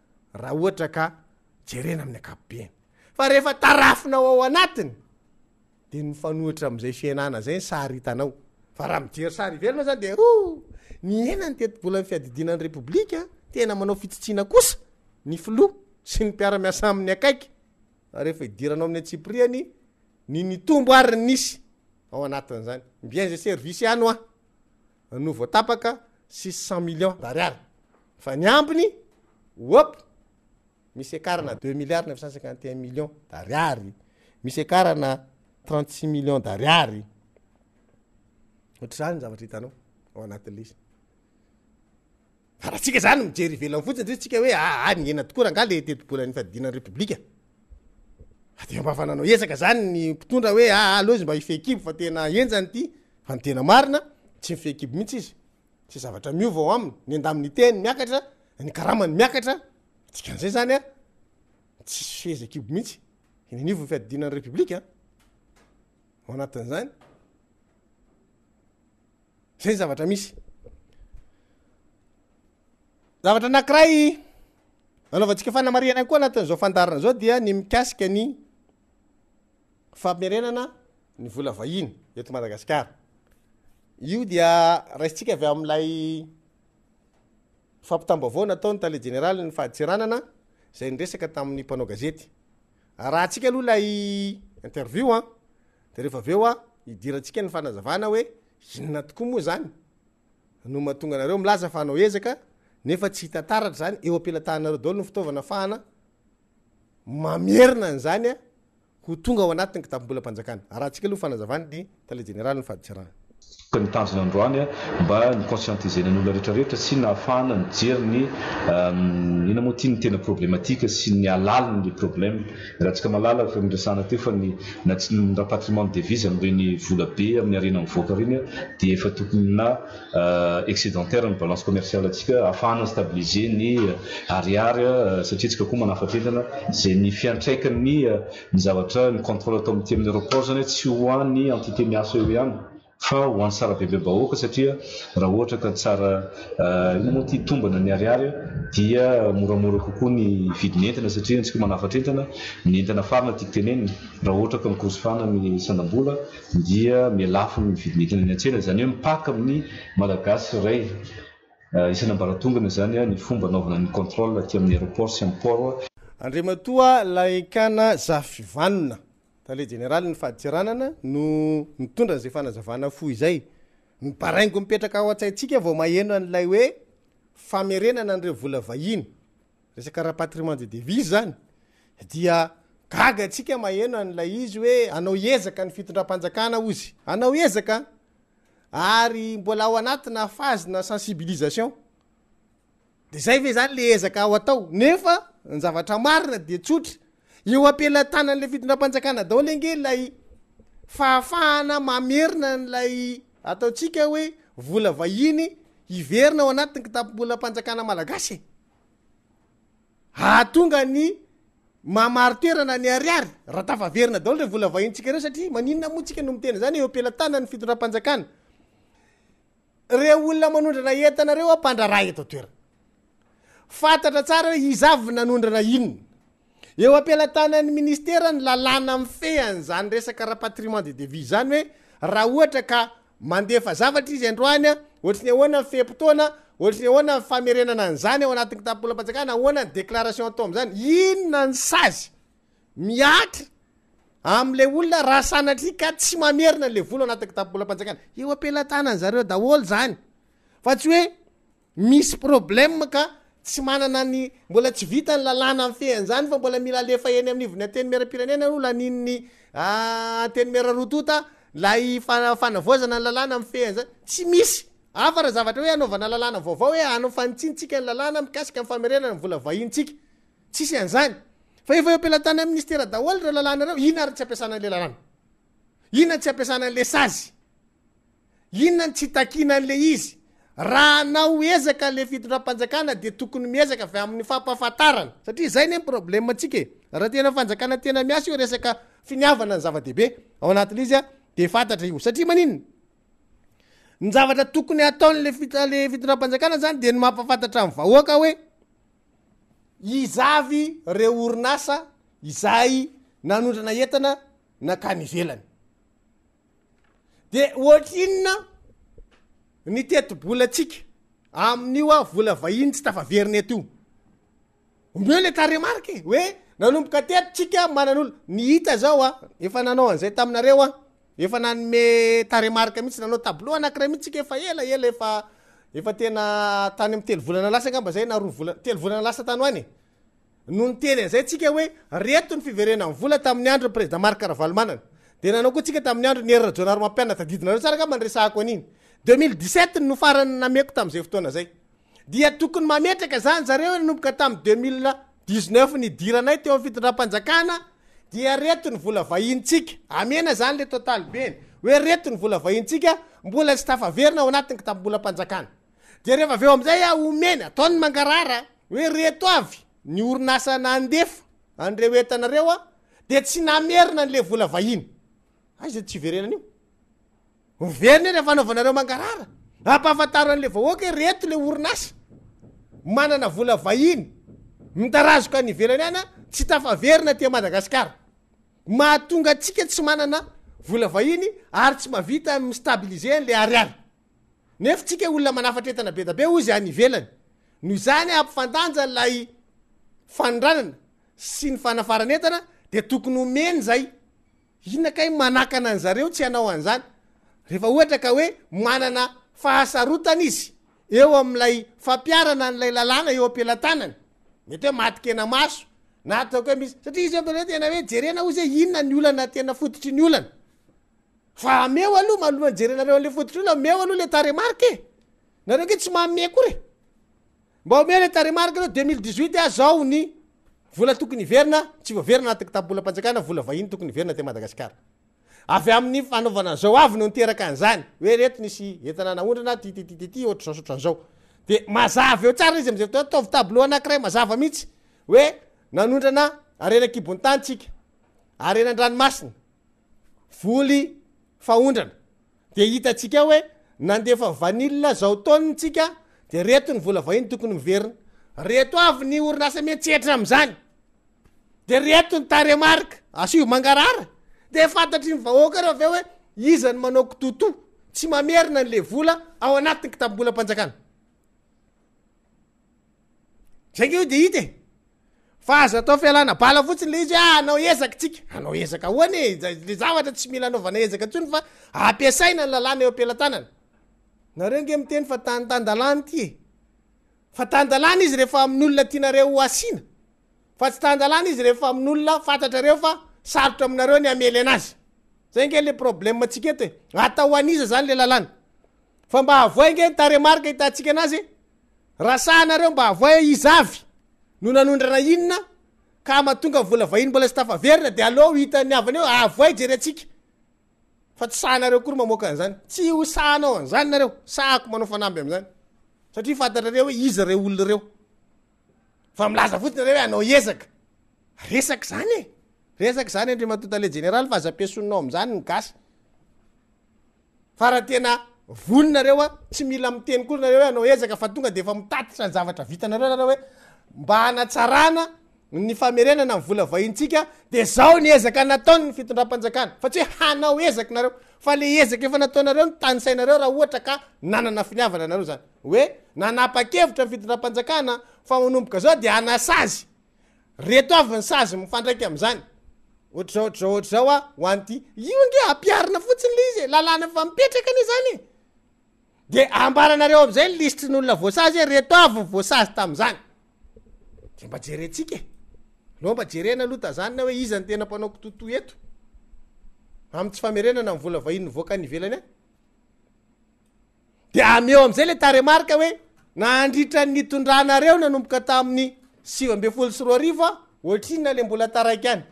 S1: raha ohatra ka jerena amin'ny ankapobeny. Fa rehefa tarafinao ao anatiny, dia mifanohitra amin'izay fiainana izay ny sary hitanao. Fa raha mijery sary ivelona zany dia oh! Mihena ny tetibolan'ny fiadidiana ny Repoblika, tena manao fitsitsiana kosa ny Filoha sy ny mpiara-miasa aminy akaiky. Fa rehefa idiranao amin'ny antsipiriany, ny nitombo ary ny nisy ao anatin'izany. Bien je service ano a! no vao tapaka six cent millions d'ariary fa ny ambiny hop misy ekarana deux milliards neuf cent cinquante et un millions d'ariary misy ekarana trente six millions d'ariary ohatr'izany ny zavatra hitanao ao anatin'ilay izy Fa raha tsika zany mijery ivelany fotsiny re tsika hoe aa ah, nihena tokoa rangah le tetibola nifadiana ny repoblika. Fa dia mba fa nanao ezaka zany ny mpitondra hoe aa ah, aleo izy mba hifehy kibo fa tena henjany ity. Fa ny tena marina, tsy mifehy kibo mihitsy izy. Tsy zavatra miova ao aminy. Ny andamin'ny tehany miakatra, ny karamany miakatra. Dikan'izay zany an, tsisy fifehezan-kibo mihitsy. Eny anivon'ny fiadiana ny repoblika, ao anatin'izany. Zay zavatra misy. Zavatra anankiray anaovantsika fanamarihana koa anatin'izao fandarina zao dia ny mikasika ny famerenana ny vola vahiny eto Madagasikara. Io dia raisintsika avy amin'ilay fampitam-baovao nataony tale jeneraly ny fahaditsiranana izay niresaka tamin'ny mpanao gazety. Arahantsika aloha ilay interview an. Dia rehefa avy eo an, hidirantsika ny fanazavana hoe inona tokoa moa izany no mahatonga anareo milaza fa hanao ezaka nefa tsy hita taratra izany, eo am-pelatananareo daholo ny fitaovana afahana mamerina an'izany ho tonga ao anatin'ny kitapo-bolam-panjakana. Arahantsika aloha ny fanazavany ny Tale Jeneralin'ny Fadintserana. ka ny tanjona
S2: androany mba ny conscientiser-na ny olona rehetra rehetra sy na hafahana mijery ny inona moa ity ny tena problematika sy ny halaliny le probleme raha tsika malala fa niresahana teo fa ny na tsy ny rapatriement de devises am reny vola be amin'ny harena mivoaka reny dia efa tokony na excedentaire ny balance commerciale tsika hafahana stabiliser ny ariary satria tsika koa manafatra entana zay ny fiantraikan'ny Ny zavatra, ny contrôle atao amin'ity amin'ny aéroport zany tsy ho an'ny entité miasa eo ihany fa ho an'ny sarabembebahoaka satria raha ohatra ka tsara inona moa ity tombana ny ariary a, dia moramora kokoa ny vidin'entana satria antsika manafatra entana, ny entana farana tiako tenenina, raha ohatra ka mikozy fana ny sandam-bola dia mihalafo ny vidin'entana eny an-tsena, izany hoe mipaka amin'ny malagasy iray. Isany ambaratongany izany ny fomba anaovana ny controle aty amin'ny aeroport sy amin'ny port. Andriamatoa
S1: Lahenkana Zafy Vanona, tale jeneralin'ny fadintseranana no mitondra an'izay fanazavana fohy izay. Ny baraingo mipetraka ao an-tsaintsika vao maheno an'ilay hoe famerenana an'ireo vola vahiny, resaka rapatriement de devises izany, dia gaga isika maheno an'ilay izy hoe hanao ezaka ny fitondram-panjakana hozy. Hanao ezaka? ary mbola ao anatina phase na sensibilisation de zay ve zany le ezaka ho atao nefa ny zavatra marina de tsotra eo ampelatanan'le fitondram-panjakana daholo ange lay fahafahana mamerina n'ilay ataontsika hoe vola vahiny hiverina ao anatin'ny kitapom-bolam-panjakana malagasy e. Hahatonga ny maha-mariterana ny Ariary raha tafaverina daholo ireo vola vahinintsika ireo satria maninona moa tsika no miteny izany eo am-pelatanan'ny fitondram-panjakana? Ireo olona manondrana entana ireo mpandraharaha eto an-toerana. Fantatra tsara hoe iza avy ny nanondrana inona. Eo am-pelatanan'ny ministera ny lalàna mifehy an'izany resaka rapatriement des devises izany hoe raha ohatra ka Mandefa zavatra izy androany a! Ohatry ny ahoana ny fe-potoana? Ohatry ny ahoana ny famerenana an'izany ao anatin'ny kitapolam-panjakana? Ahoana ny déclaration atao amin'izany? Inona ny sazy mihatra amin'ilay olona raha sanatria ka tsy mamerina an'ilay vola ao anatin'ny kitapolam-panjakana? Eo am-pelatanan'ny zareo daholo izany fa tsy hoe Misy problème ka tsy manana ny mbola tsy vita ny lalàna mifehy an'izany fa mbola mila alefa eny amin'ny ivon'ny Antenimierampirenena aloha lanin'ny Antenimiera roa tonta ilay fanavaozana ny lalàna mifehy an'izany. Tsy misy hafa raha zavatra hoe hanaovana lalàna vaovao hoe hanao fanitsiantsika ny lalàna mikasika ny famerenana ny vola vahinintsika. Tsisy an'izany. Fa efa eo am-pelatanan'ny minisitera daholo ireo lalàna ireo, inona ary no tsy ampiasana an'ilay lalàna? Inona no tsy ampiasana an'ilay sazy? Inona no tsy hitakiana an'ilay izy? Raha hanao ezaka ilay fitondram-panjakana dia tokony miezaka avy amin'ny fampahafantarana. Satria izay anie ny problème antsika e! Raha tena fanjakana tena miasa io resaka finiavana no zava-dehibe ao anatin'ilay izy dia fantatra io. Satria maninona? Ny zavatra tokony hataon'ilay ilay fitondram-panjakana izany dia ny mampahafantatra amin'ny vahoaka hoe iza avy ireo orinasa izay nanondrana entana nankany ivelany. Dia ohatrinona ny tetibolantsika amin'io a vola vahiny tsy tafaverina eto io? Omeo le cas remarque e, hoe nanomboka teto tsika manan'olo ny hita zao a, efa nanao an'izay taminareo a, efa nanome cas remarque mihitsy, nanao tableau anankiray mihitsy tsika efa ela ela efa efa tena tany amin'ny telo volana lasa angamba zay na roa volana, telo volana lasa tany ho any e. No niteny an'izay tsika hoe reto ny fiverenan'ny vola tamin'ny andron'ny Prezida Marc Ravalomanana. Dia nanao koa tsika tamin'ny andron'i Hery Rajaonarimampianina tadidinareo tsara angamba ny resahako an'iny. 2017 no farany nameko tamin'izay fotoana izay. Dia tokony mametraka izany zareo nanomboka tamin'ny 2019 nidiranay teo amin'ny fitondram-panjakana dia reto ny vola vahinintsika. Amena izany ilay total beny hoe reto ny vola vahinintsika mbola tsy tafaverina ao anatin'ny kitapom-bolam-panjakana. Dia rehefa avy eo amin'izay aho omeny, ataony mangarahara hoe reto avy ny orinasa nandefa an'ireo entana ireo aho dia tsy namerina an'ilay vola vahiny. Aiza ny tsy hiverenan'io? Miverina io rehefa anaovanareo mangarahara. Ampahafantarina an'ilay vahoaka hoe reto ilay orinasa manana vola vahiny midarazoka any ivelany any tsy tafaverina aty Madagasikara. Mahatonga antsika tsy manana vola vahiny ary tsy mahavita mi-stabiliser an'ilay ariary. Nefo tsika olona manafatra entana bedabe ozy any ivelany. Noho izany hampifandanja ilay fanondranana sy ny fanafarana entana dia tokony omeny izay. Inona kay manakana an zareo tsy hanao an'izany. Rehefa ohatra ka hoe manana fahasarotana izy eo amin'ilay fampiarana an'ilay lalàna eo ampelatanany. Mety hoe maty kena maso na ataoko hoe misy satria izy eo ampelatanany tena hoe jerena ozy hoe inona ny olana tena fototry ny olana. Fa ameo aloha manoloana jerenareo anle fototra io ameo aloha le taremark e nareo nge tsy maome akory e mba omeo le taremark nareo deux mille dix huit a zao ny vola tokony hiverina tsy voaverina anaty kitabolam-panjakana vola vahiny tokony hiverina te madagasikara avy amin'ny fanaovana zao avy no niteraka an'izany hoe reto nisy entana naondrana ty ty ty ty ty ohatr'izao sotra an'izao de mazava eo tsara izy am'izay fotoana ataovy tableau anankiray mazava mihitsy hoe nanondrana arena kibon'ny tany tsika arena an-dranomasina voly faondrana dia hitantsika hoe nandefa vanille zao tonne tsika dia reto ny vola vahiny tokony miverina reto avy ny orinasa miantsetra amizany dia reto ny taremark asio mangarara dia fantatry ny vahoaka reo aveo hoe iza ny manao kitoto tsy mamerina an'le vola ao anatin'ny kitabombolam-panjakana Zay nge io de hita e. Fa aza atao fialana bala fotsiny le izy hoe ah, hanao ezaka tsika. Hanao ezaka ahoana e? Le zavatra tsy mila anaovana ezaka intsony fa ampiasaina ny lalàna eo am-pelatanana. Nareo nge miteny fa tany tan-dalàna ity e. Fa tan-dalàna izy rehefa amin'olona tianareo ho asiana. Fa tsy tan-dalàna izy rehefa amin'olona fantatrareo fa sarotra aminareo ny hamely anazy. Zay nge le problème antsika eto e. Atao ho an'iza zany le lalàna? Fa mba avoay nge ny tarehimarika hitantsika anazy e. Raha sahy nareo mba avoay hoe iza avy no nanondrana inona ka matonga vola vahiny mbola tsy tafaverina dia aleo hitan'ny havany eo avoay jerentsika fa tsy sahanareo akory mamoaka an'izany tsy ho sahy hanao an'izany nareo sahako manao fanamby amin'izany satria fantatrareo hoe iza reo olona reo fa milaza fotsiny nareo hoe anao ezaka resaka izany e resaka izany andriamatoa tale jeneraly fa aza ampiesonao amin'izany ny gasy Fa raha tena vonona nareo a, tsy mila miteny koa nareo hoe hanao ezaka fa tonga dia efa mitatitra ny zavatra vitanareo nareo hoe mba hanatsarana ny famerenana ny vola vahintsika dia zao ny ezaka nataon'ny fitondram-panjakana fa tsy hoe hanao ezaka nareo fa le ezaka efa nataonareo ny tanisainareo raha ohatra ka nanana finiavana nareo zany hoe nanapa-kevitra ny fitondram-panjakana fa manomboka zao dia hanasazy Reto avy ny sazy mifandraika amin'izany. Ohatr'izao, ohatr'izao, ohatr'izao a, ho an'ity. Io ange ampiharina fotsiny le izy e, lalàna efa mipetraka anie izany e. Dia ambaranareo amin'izay ny lisitry ny olona voasazy hoe reto avy ny voasazy tamin'izany. Dia mba jerentsika e. Aleo mba jerena aloha tazanina hoe iza ny tena mpanao kitotoa eto. Amin'ny tsy famerenana ny vola vahiny nivoaka any ivelany any. Dia hameo amin'izay ilay tarehimarika hoe nandritra ny nitondranareo nanomboka tamin'ny sivy ambin'ny folo sy roa arivo aho, ohatrinona ilay mbola taraiky ihany.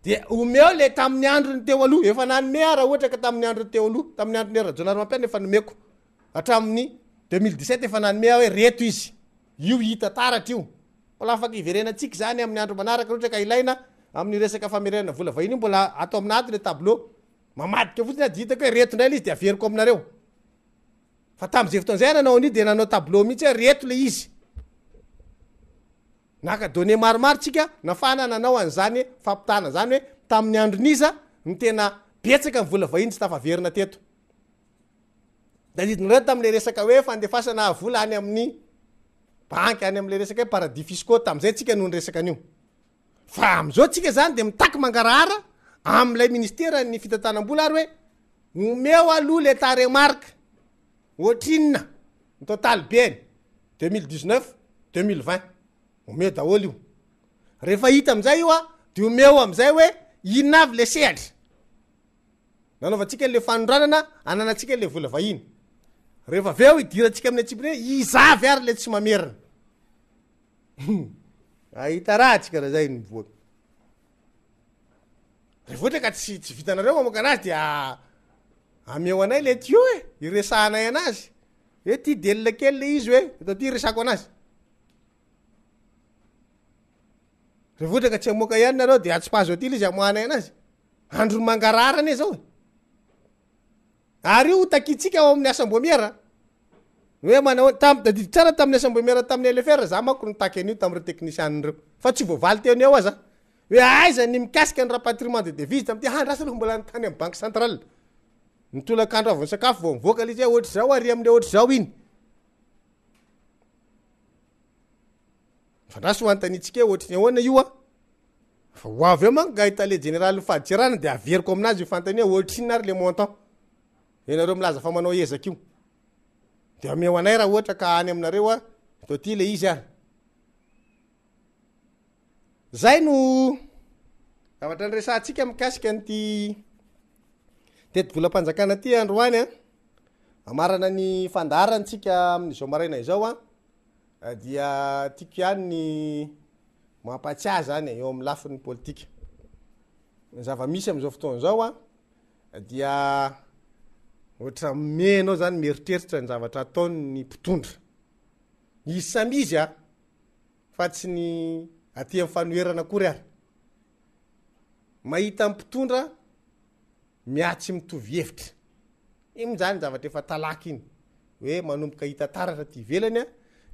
S1: Dia omeo ilay tamin'ny andron'ny teo aloha, efa nanome aho raha ohatra ka tamin'ny andron'ny teo aloha, tamin'ny andron'ny Rajaonarimampianina efa nomeko hatramin'ny 2017 efa nanome aho hoe reto izy. Io hita taratra io. Mbola afaka hiverenantsika izany amin'ny andro manaraka raha ohatra ka ilaina amin'ny resaka famerenana vola vahiny io mbola ato aminà ato ilay tableau. Mamadika fotsiny aho dia hitako hoe reto indray ilay izy dia averiko aminareo. Fa tamin'izay fotoana izay aho nanao an'io dia nanao tableau mihitsy hoe reto ilay izy. Naka données maromaro tsika nafahana nanao an'izany fampitahana izany hoe tamin'ny andron'iza no tena betsaka ny vola vahiny tsy tafaverina teto. Tadidinareo tamin'ilay resaka hoe fandefasana vola any amin'ny banky any amin'ilay resaka hoe paradis fiscaux tamin'izay tsika no niresaka an'io. Fa amin'izao tsika zany de mitaky mangarahara amin'ilay ministeran'ny fitantanam-bola ary hoe omeo aloha le tarehy marque ohatrinona ny total beny deux mille dix neuf deux mille vingt omeo daholo io rehefa hita amin'izay io a de omeo amin'izay hoe inona avy le sehatra nanaovantsika an'le fanondranana ananantsika an'le vola vahiny rehefa avy eo hidirantsika amin'ny antsipiny hoe iza avy ary le tsy mamerina Ahita ratsy ka raha zay ny mivoaka. Rehefa ohatra ka tsy tsy vitanareo mamoaka anazy dia ameo anay le tuyau e, iresahanay anazy. Hoe ty delina kely le izy hoe eto aty resako anazy. Rehefa ohatra ka tsy amoaka ihany nareo dia atsipazo aty le izy amoahanay anazy. Andron'ny mangarahara anie zao e. Ary io takintsika ao amin'ny asam-boamiera ny hoe manao hoe tam tadidio tsara tamin'ny asam-boamiera tamin'ny LFR za manko nitaky an'io tamin'ireo teknisianina ireo fa tsy voavaly teo ny eo aza hoe aiza ny mikasika ny rapatriement de devises tamin'ity handrasa aloha mbola ny tany amin'ny banque centrale ny tolakandro avy nisakafo vao mivoaka ilay izy hoe ohatr'izao ary amin'ilay ohatr'izao iny Mifandraso ho anontaniantsika hoe ohatry ny ahoana io an? Fa ho avy eo manko ngahy tale jeneralin'ny fadjerana dia averiko aminazy io fanontaniana ohatry inona ary le montant ianareo milaza fa manao ezaka io. Dia omeo anay raha ohatra ka any aminareo a toty le izy a. Zay no zavatra niresahantsika mikasika an'ity tetibolam-panjakana ty androany a. Amarana ny fandaharantsika amin'izao maraina izao a. Dia tiako ihany ny mampatsiahy izany eo amin'ny lafiny politika. Ny zava-misy amin'izao fotoana izao dia ohatra me ianao izany mieritreritra ny zavatra ataon'ny mpitondra. Izy samy izy a, fa tsy ny aty amin'ny fanoherana akory ary. Mahita ny mpitondra Miha tsy mitovy hevitra. Iny moa zany zavatra efa talaka iny. Hoe manomboka hita taratra aty ivelany a,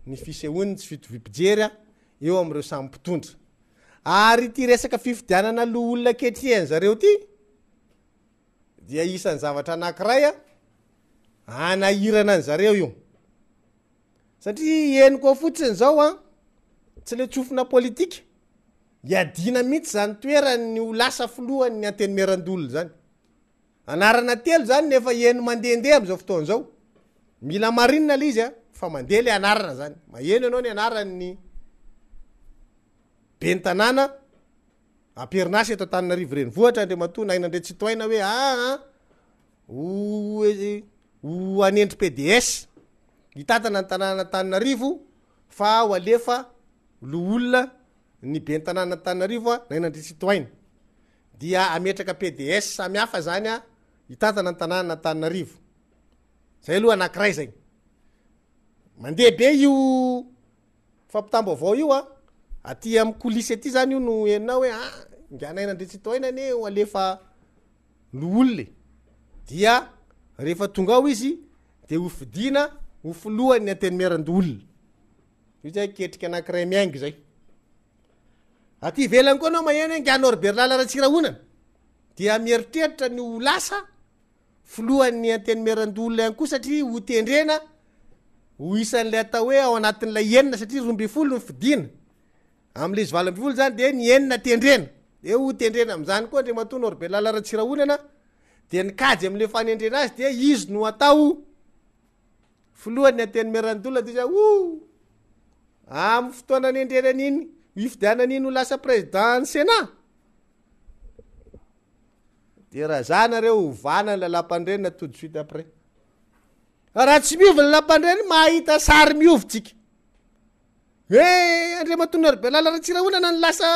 S1: ny fisehoan'ny tsy fitoviam-pijery a, eo amin'ireo samy mpitondra. Ary ity resaka fifidianana loholona ankehitrihen zareo ity dia isan'ny zavatra anankiray a, anahirana an zareo io. Satria henoko ao fotsiny zao a, tsy le tsofina politika. Iadiana mihitsy izany toerany ny ho lasa filohan'ny Antenimierandoholona izany. Anarana telo izany no efa heno mandehandeha amin'izao fotoana izao. Mila marina ilay izy a, fa mandeha ilay anarana izany. Maheno ianao ny anaran'ny ben'ny tanàna amperinasa eto Antananarivo Renivohitra, Andriamatoa Naina Andriantsitohaina hoe aa ah, ho, ho hanendry PDS hitantana ny tanànan'Antananarivo Fa ho alefa loholona ny Ben'ny tanànan'Antananarivo a, Naina Andriantsitohaina. Dia hametraka PDS samy hafa izany a, hitantana ny tanànan'Antananarivo. Izay aloha anankiray izay. Mandeha be io fampitam-baovao io a, aty amin'ny coulisse aty izany io no henonao hoe a, ingahy Naina Andriantsitohaina anie ho alefa no olona e! dia rehefa tonga ao izy dia ho fidiana ho filohan'ny antenimieran-doholona io zay ketrika anankiray miainga zay aty ivelany koa anao maheno hoe nga norberlala ratsirahonana dia mieritreritra ny ho lasa filohan'ny antenimieran-doholona ihany koa satria ho tendrena ho isan'ilay atao hoe ao anatin'ilay enina satria roa mbe folo ny fidiana Amin'ilay izy valo ambin'ny folo izany dia ny enina tendrena. Dia hotendrena amin'izany koa Andriamatoa Norbelala Ratsirahonana. Dia ny kajy amin'ilay fanendrena azy dia izy no atao filohan'ny Antenimierandoholona dia izy oh! Amin'ny fotoana anendrena an'iny hifidianana an'iny ho lasa président ny Sénat. Dia raha za nareo hovana ny lalampandrenina tout de suite après. Raha tsy miova ny lalampandrenina mahita sary miova tsika. Hoe Andriamatoa Narbelala Ratsirahonana ny lasa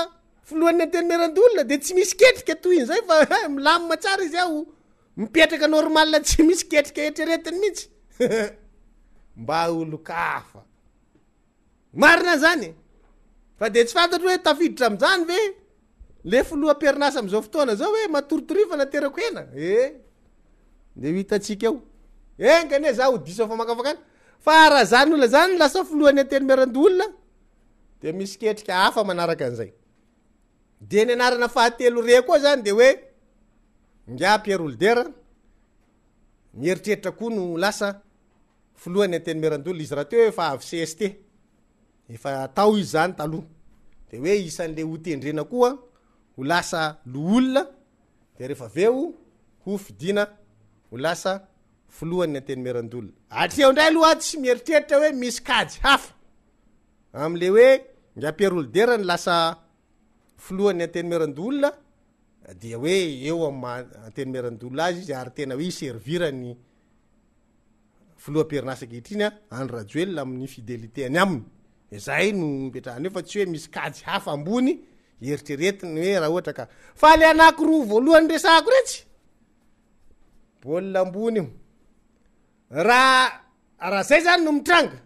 S1: filohan'ny Antenimierandoholona dia tsy misy ketrika toy izay fa milamina tsara izy aho, mipetraka normal tsy misy ketrika eritreretiny mihitsy. Mba olon-kafa. Marina izany e. Fa dia tsy fantatro hoe tafiditra amin'izany ve? Le filoha am-perinasa amin'izao fotoana izao hoe matoritorio naterako hena e de ho hitantsika eo enga anie za ho diso amin'ny famakafakana fa raha zany olona zany lasa filohan'ny antenimierandoholona de misy ketrika hafa manaraka an'izay de ny anarana fahatelo re koa zany de hoe nga Pierre Olidera ny eritreritra koa no lasa filohan'ny antenimierandoholona izy raha teo efa avy CST Efa tao izy zany taloha. De hoe isan'le ho tendrena koa ho lasa loholona de rehefa avy eo ho fidiana ho lasa filohan'ny antenimierandoholona. Hatreo indray aloha aho tsy mieritreritra hoe misy kajy hafa amin'le hoe Ingahy Pierre Olidera ny lasa filohan'ny antenimierandoholona dia hoe eo amin'ny maha antenimierandoholona azy izy ary tena hoe hi-servir ny filoha am-perinasa ankehitriny Andry Rajoelina amin'ny fidelite any aminy. Izay no ipetrahany eo fa tsy hoe misy kajy hafa ambony eritreretiny hoe raha ohatra ka fa le anankiroa voalohany resahako retsy baolina ambony io raha raha zay zany no mitranga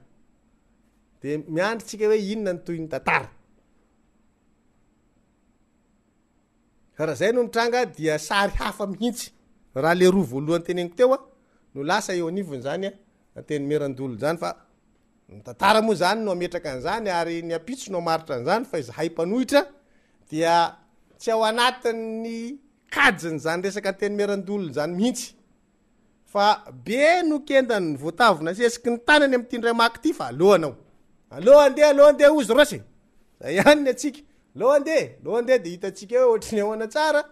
S1: de miandry tsika hoe inona ny tohin'ny tantara Raha izay no nitranga dia sary hafa mihitsy raha ilay roa voalohany teneniko teo no lasa eo anivon'izany Antenimieran-dolo izany fa ny tantara moa izany no ametraka an'izany ary ny ampitso no amaritra an'izany fa izahay mpanohitra dia tsy ao anatin'ny kajin'izany resaka Antenimieran-dolo izany mihitsy. Fa be no kendany voatavo nasesiky ny tany any amin'ity indray maky ity fa aleo anao. Aleo andeha, aleo andeha ozy roasy e. Zay ihany ny antsika. Aleo andeha, aleo andeha dia hitantsika hoe ohatry ny ahoana tsara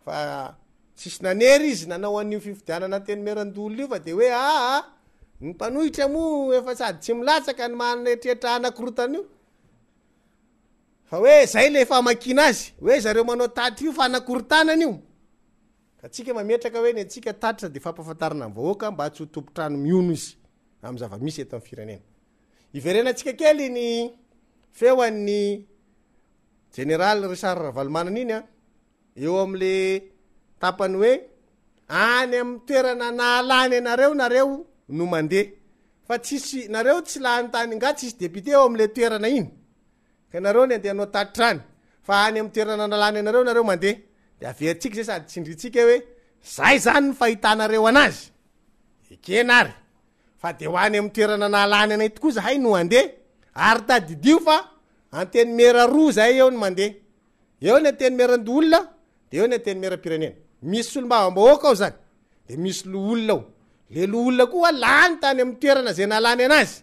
S1: fa tsisy nanery izy nanao an'io fifidianana antenimerandolo io fa dia hoe aa ny mpanohitra moa efa sady tsy milatsaka ny manetrietra anakorotana io fa hoe zay le famakiana azy hoe zareo manao tatry io fa anakorontanana io Ka tsika mametraka hoe ny antsika tatitra dia fampafantarana amin'ny vahoaka mba tsy ho tompon-trano mihono izy amin'ny zava-misy eto amin'ny firenena. Hiverenantsika kely iny feo an'ny Jeneraly Richard Ravalomanana iny an, eo amin'le tapany hoe any amin'ny toerana nahalany anareo nareo no mandeha fa tsisy nareo tsy lany tany nga tsisy député eo amin'le toerana iny Ka nareo ny andeha anao tatitra any fa any amin'ny toerana analany anareo nareo mandeha de averintsika zay sady tsindrintsika hoe zay zany ny fahitanareo anazy ekena ary fa de ho any amin'ny toerana nahalany anay tokoa zahay no andeha ary tadidio fa antenimera roa zay eo ny mandeha eo ny antenimierandoholona de eo ny antenimierampirenena misy solombavambahoaka ao zany de misy loholona ao le loholona koa lany tany amin'ny toerana zay nahalany anazy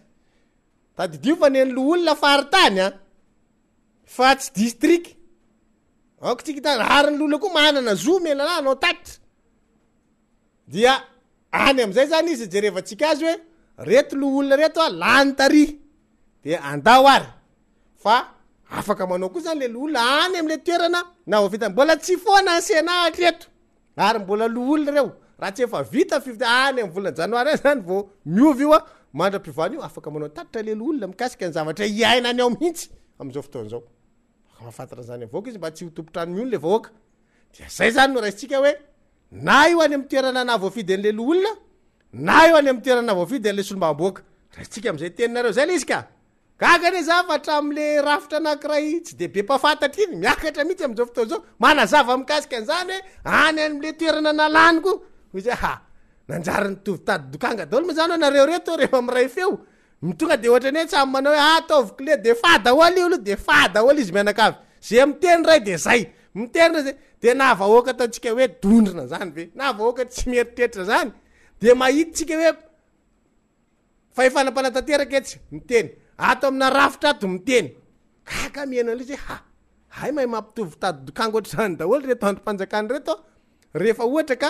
S1: Tadidio fa nen loholona faritany an! Fa tsy district! Aoka tsika hitandrina, ary ny loholona koa manana zo mialala hanao tatitra! Dia any amin'izay zany izy jerevantsika azy hoe reto loholona reto a lany tary! De andao ary! Fa afaka manao koa zany le loholona any am'le toerana na ho vita, mbola tsy foana ny Sénat hatreto! Ary mbola loholona ireo. Raha tsy efa vita fifidianana any amin'ny volana janoary any izany vao miova io, mandra-pivana io afaka manao tatitra ilay loholona mikasika ny zavatra iainany ao mihitsy amin'izao fotoana izao. Afaka mahafantatra an'izany avoaka izy mba tsy ho tompon-trano mihono ilay vahoaka. Dia izay izany no raisintsika hoe na io any amin'ny toerana nahavoafidy an'ilay loholona na io any amin'ny toerana nahavoafidy an'ilay solombavambahoaka. Raisintsika amin'izay teninareo izay ilay izy ka! Gaga anie za fa hatramin'le rafitra anankiray tsy dia be mpafantatra iny miakatra mihitsy amin'izao fotoana izao manazava mikasika an'izany hoe any amin'le toerana nalany koa hoy zay ha nanjary nitovy tady dokanga daholo moa zany anareo reto rehefa miray feo ny tonga dia ohatrany hoe samy manao hoe ataovy kle dia fa daholo io aloha dia fa daholo izy mianakavy zay miteny ray dia zay miteny ray zay dia na vahoaka ataontsika hoe dondrona zany ve na vahoaka tsy mieritreritra zany dia mahitsika hoe Fahefana mpanatanteraka etsy miteny, ato amina rafitra ato miteny. Gaga mihaino an'ilay izy hoe ha! hay mahay mampitovy tady dokanga ohatr'izany daholo ireto andrim-panjakana ireto rehefa ohatra ka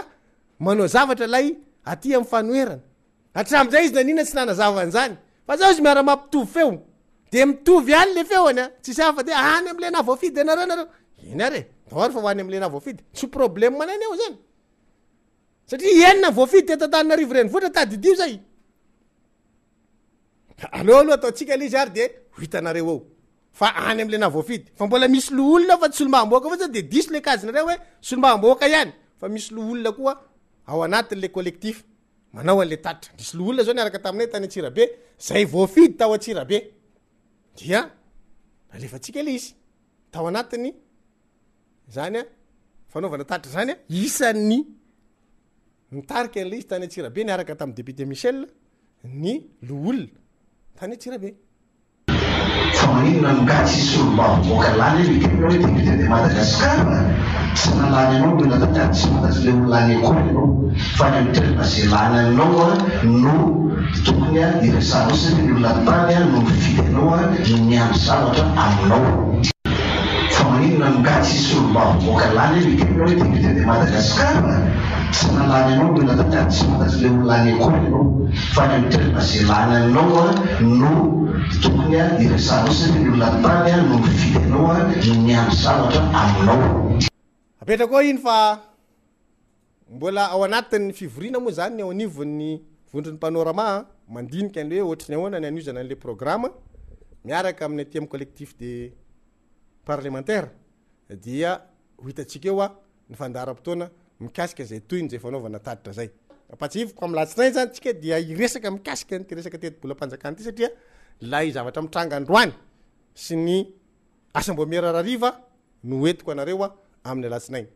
S1: manao zavatra ilay aty amin'ny fanoherana. Hatramin'izay izy naniana tsy nanazava an'izany. Fa izao izy miara-mampitovy feo. Dia mitovy ihany ilay feony a! Tsisy hafa fa dia any amin'ny lehilahy voafidy ianareo nareo. Eny ary e! Ndao ary fa ho any amin'ny lehilahy voafidy. Tsy ho problème anay ny ao izany. Satria i Enina voafidy teto Antananarivo renivohitra tadidio zay. Aleo aloha ataontsika ilay izy ary dia ho hitanareo eo. Fa any amin'ilay navoafidy. Fa mbola misy loholona ao fa tsy solombavambahoaka fotsiny dia diso ilay kajinareo hoe solombavambahoaka ihany. Fa misy loholona koa ao anatin'ilay collectif manao an'ilay tatitra. Nisy loholona izao niaraka taminay tany Antsirabe, izay voafidy tao Antsirabe. Dia alefantsika ilay izy tao anatin'ny zany a fanaovana tatitra zany a isan'ny nitarika an'ilay izy tany atsirabe niaraka tamin'ny député michel ny loholona tany atsirabe
S3: fa maninona no gasy sy solombavomboka lany ny tena hoe député de madagascar tsy nalany anao mbola tany ary tsy mantasy le ho lany akory ianao fa ny toerana ze lany aminao a no tokony a iresanao satria ny olona tany a no mifidy anao a ny miandry zavatra aminao Fa maninona no gasy sy solombavambo voaka lany any tena hoe député de Madagascar a? Tsy nalany anao mbola tany ary tsy mantatry le ho lany akory ianao fa any am toerana ze lany anao a no tokony a iresahanao satria ny olona tany a no nifidy anao a ny miandry zavatra aminao. Apetrako
S1: eo iny fa. Mbola ao anatin'ny fivoriana moa izany ny eo anivon'ny Vondron'ny Panorama mandinika ny hoe ohatry ny ahoana ny hanohizana an'ilay programa miaraka amin'ny aty amin'ny collectif des parlementaires dia ho hitantsika eo ny fandaharam-potoana mikasika izay tohiny izay fanaovana tatitra izay. Ampahatsiahiviko amin'ny latsinainy izany tsika dia hiresaka mikasika an'ity resaka tetibolam-panjakana ity satria ilay zavatra mitranga androany sy ny Asa mbo miera rariva no ho entiko anareo a aminy alatsinainy.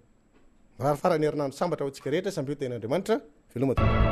S1: Mirary farany herinandro sambatra ho antsika rehetra samby ho tehin' Andriamanitra. Veloma tompoko.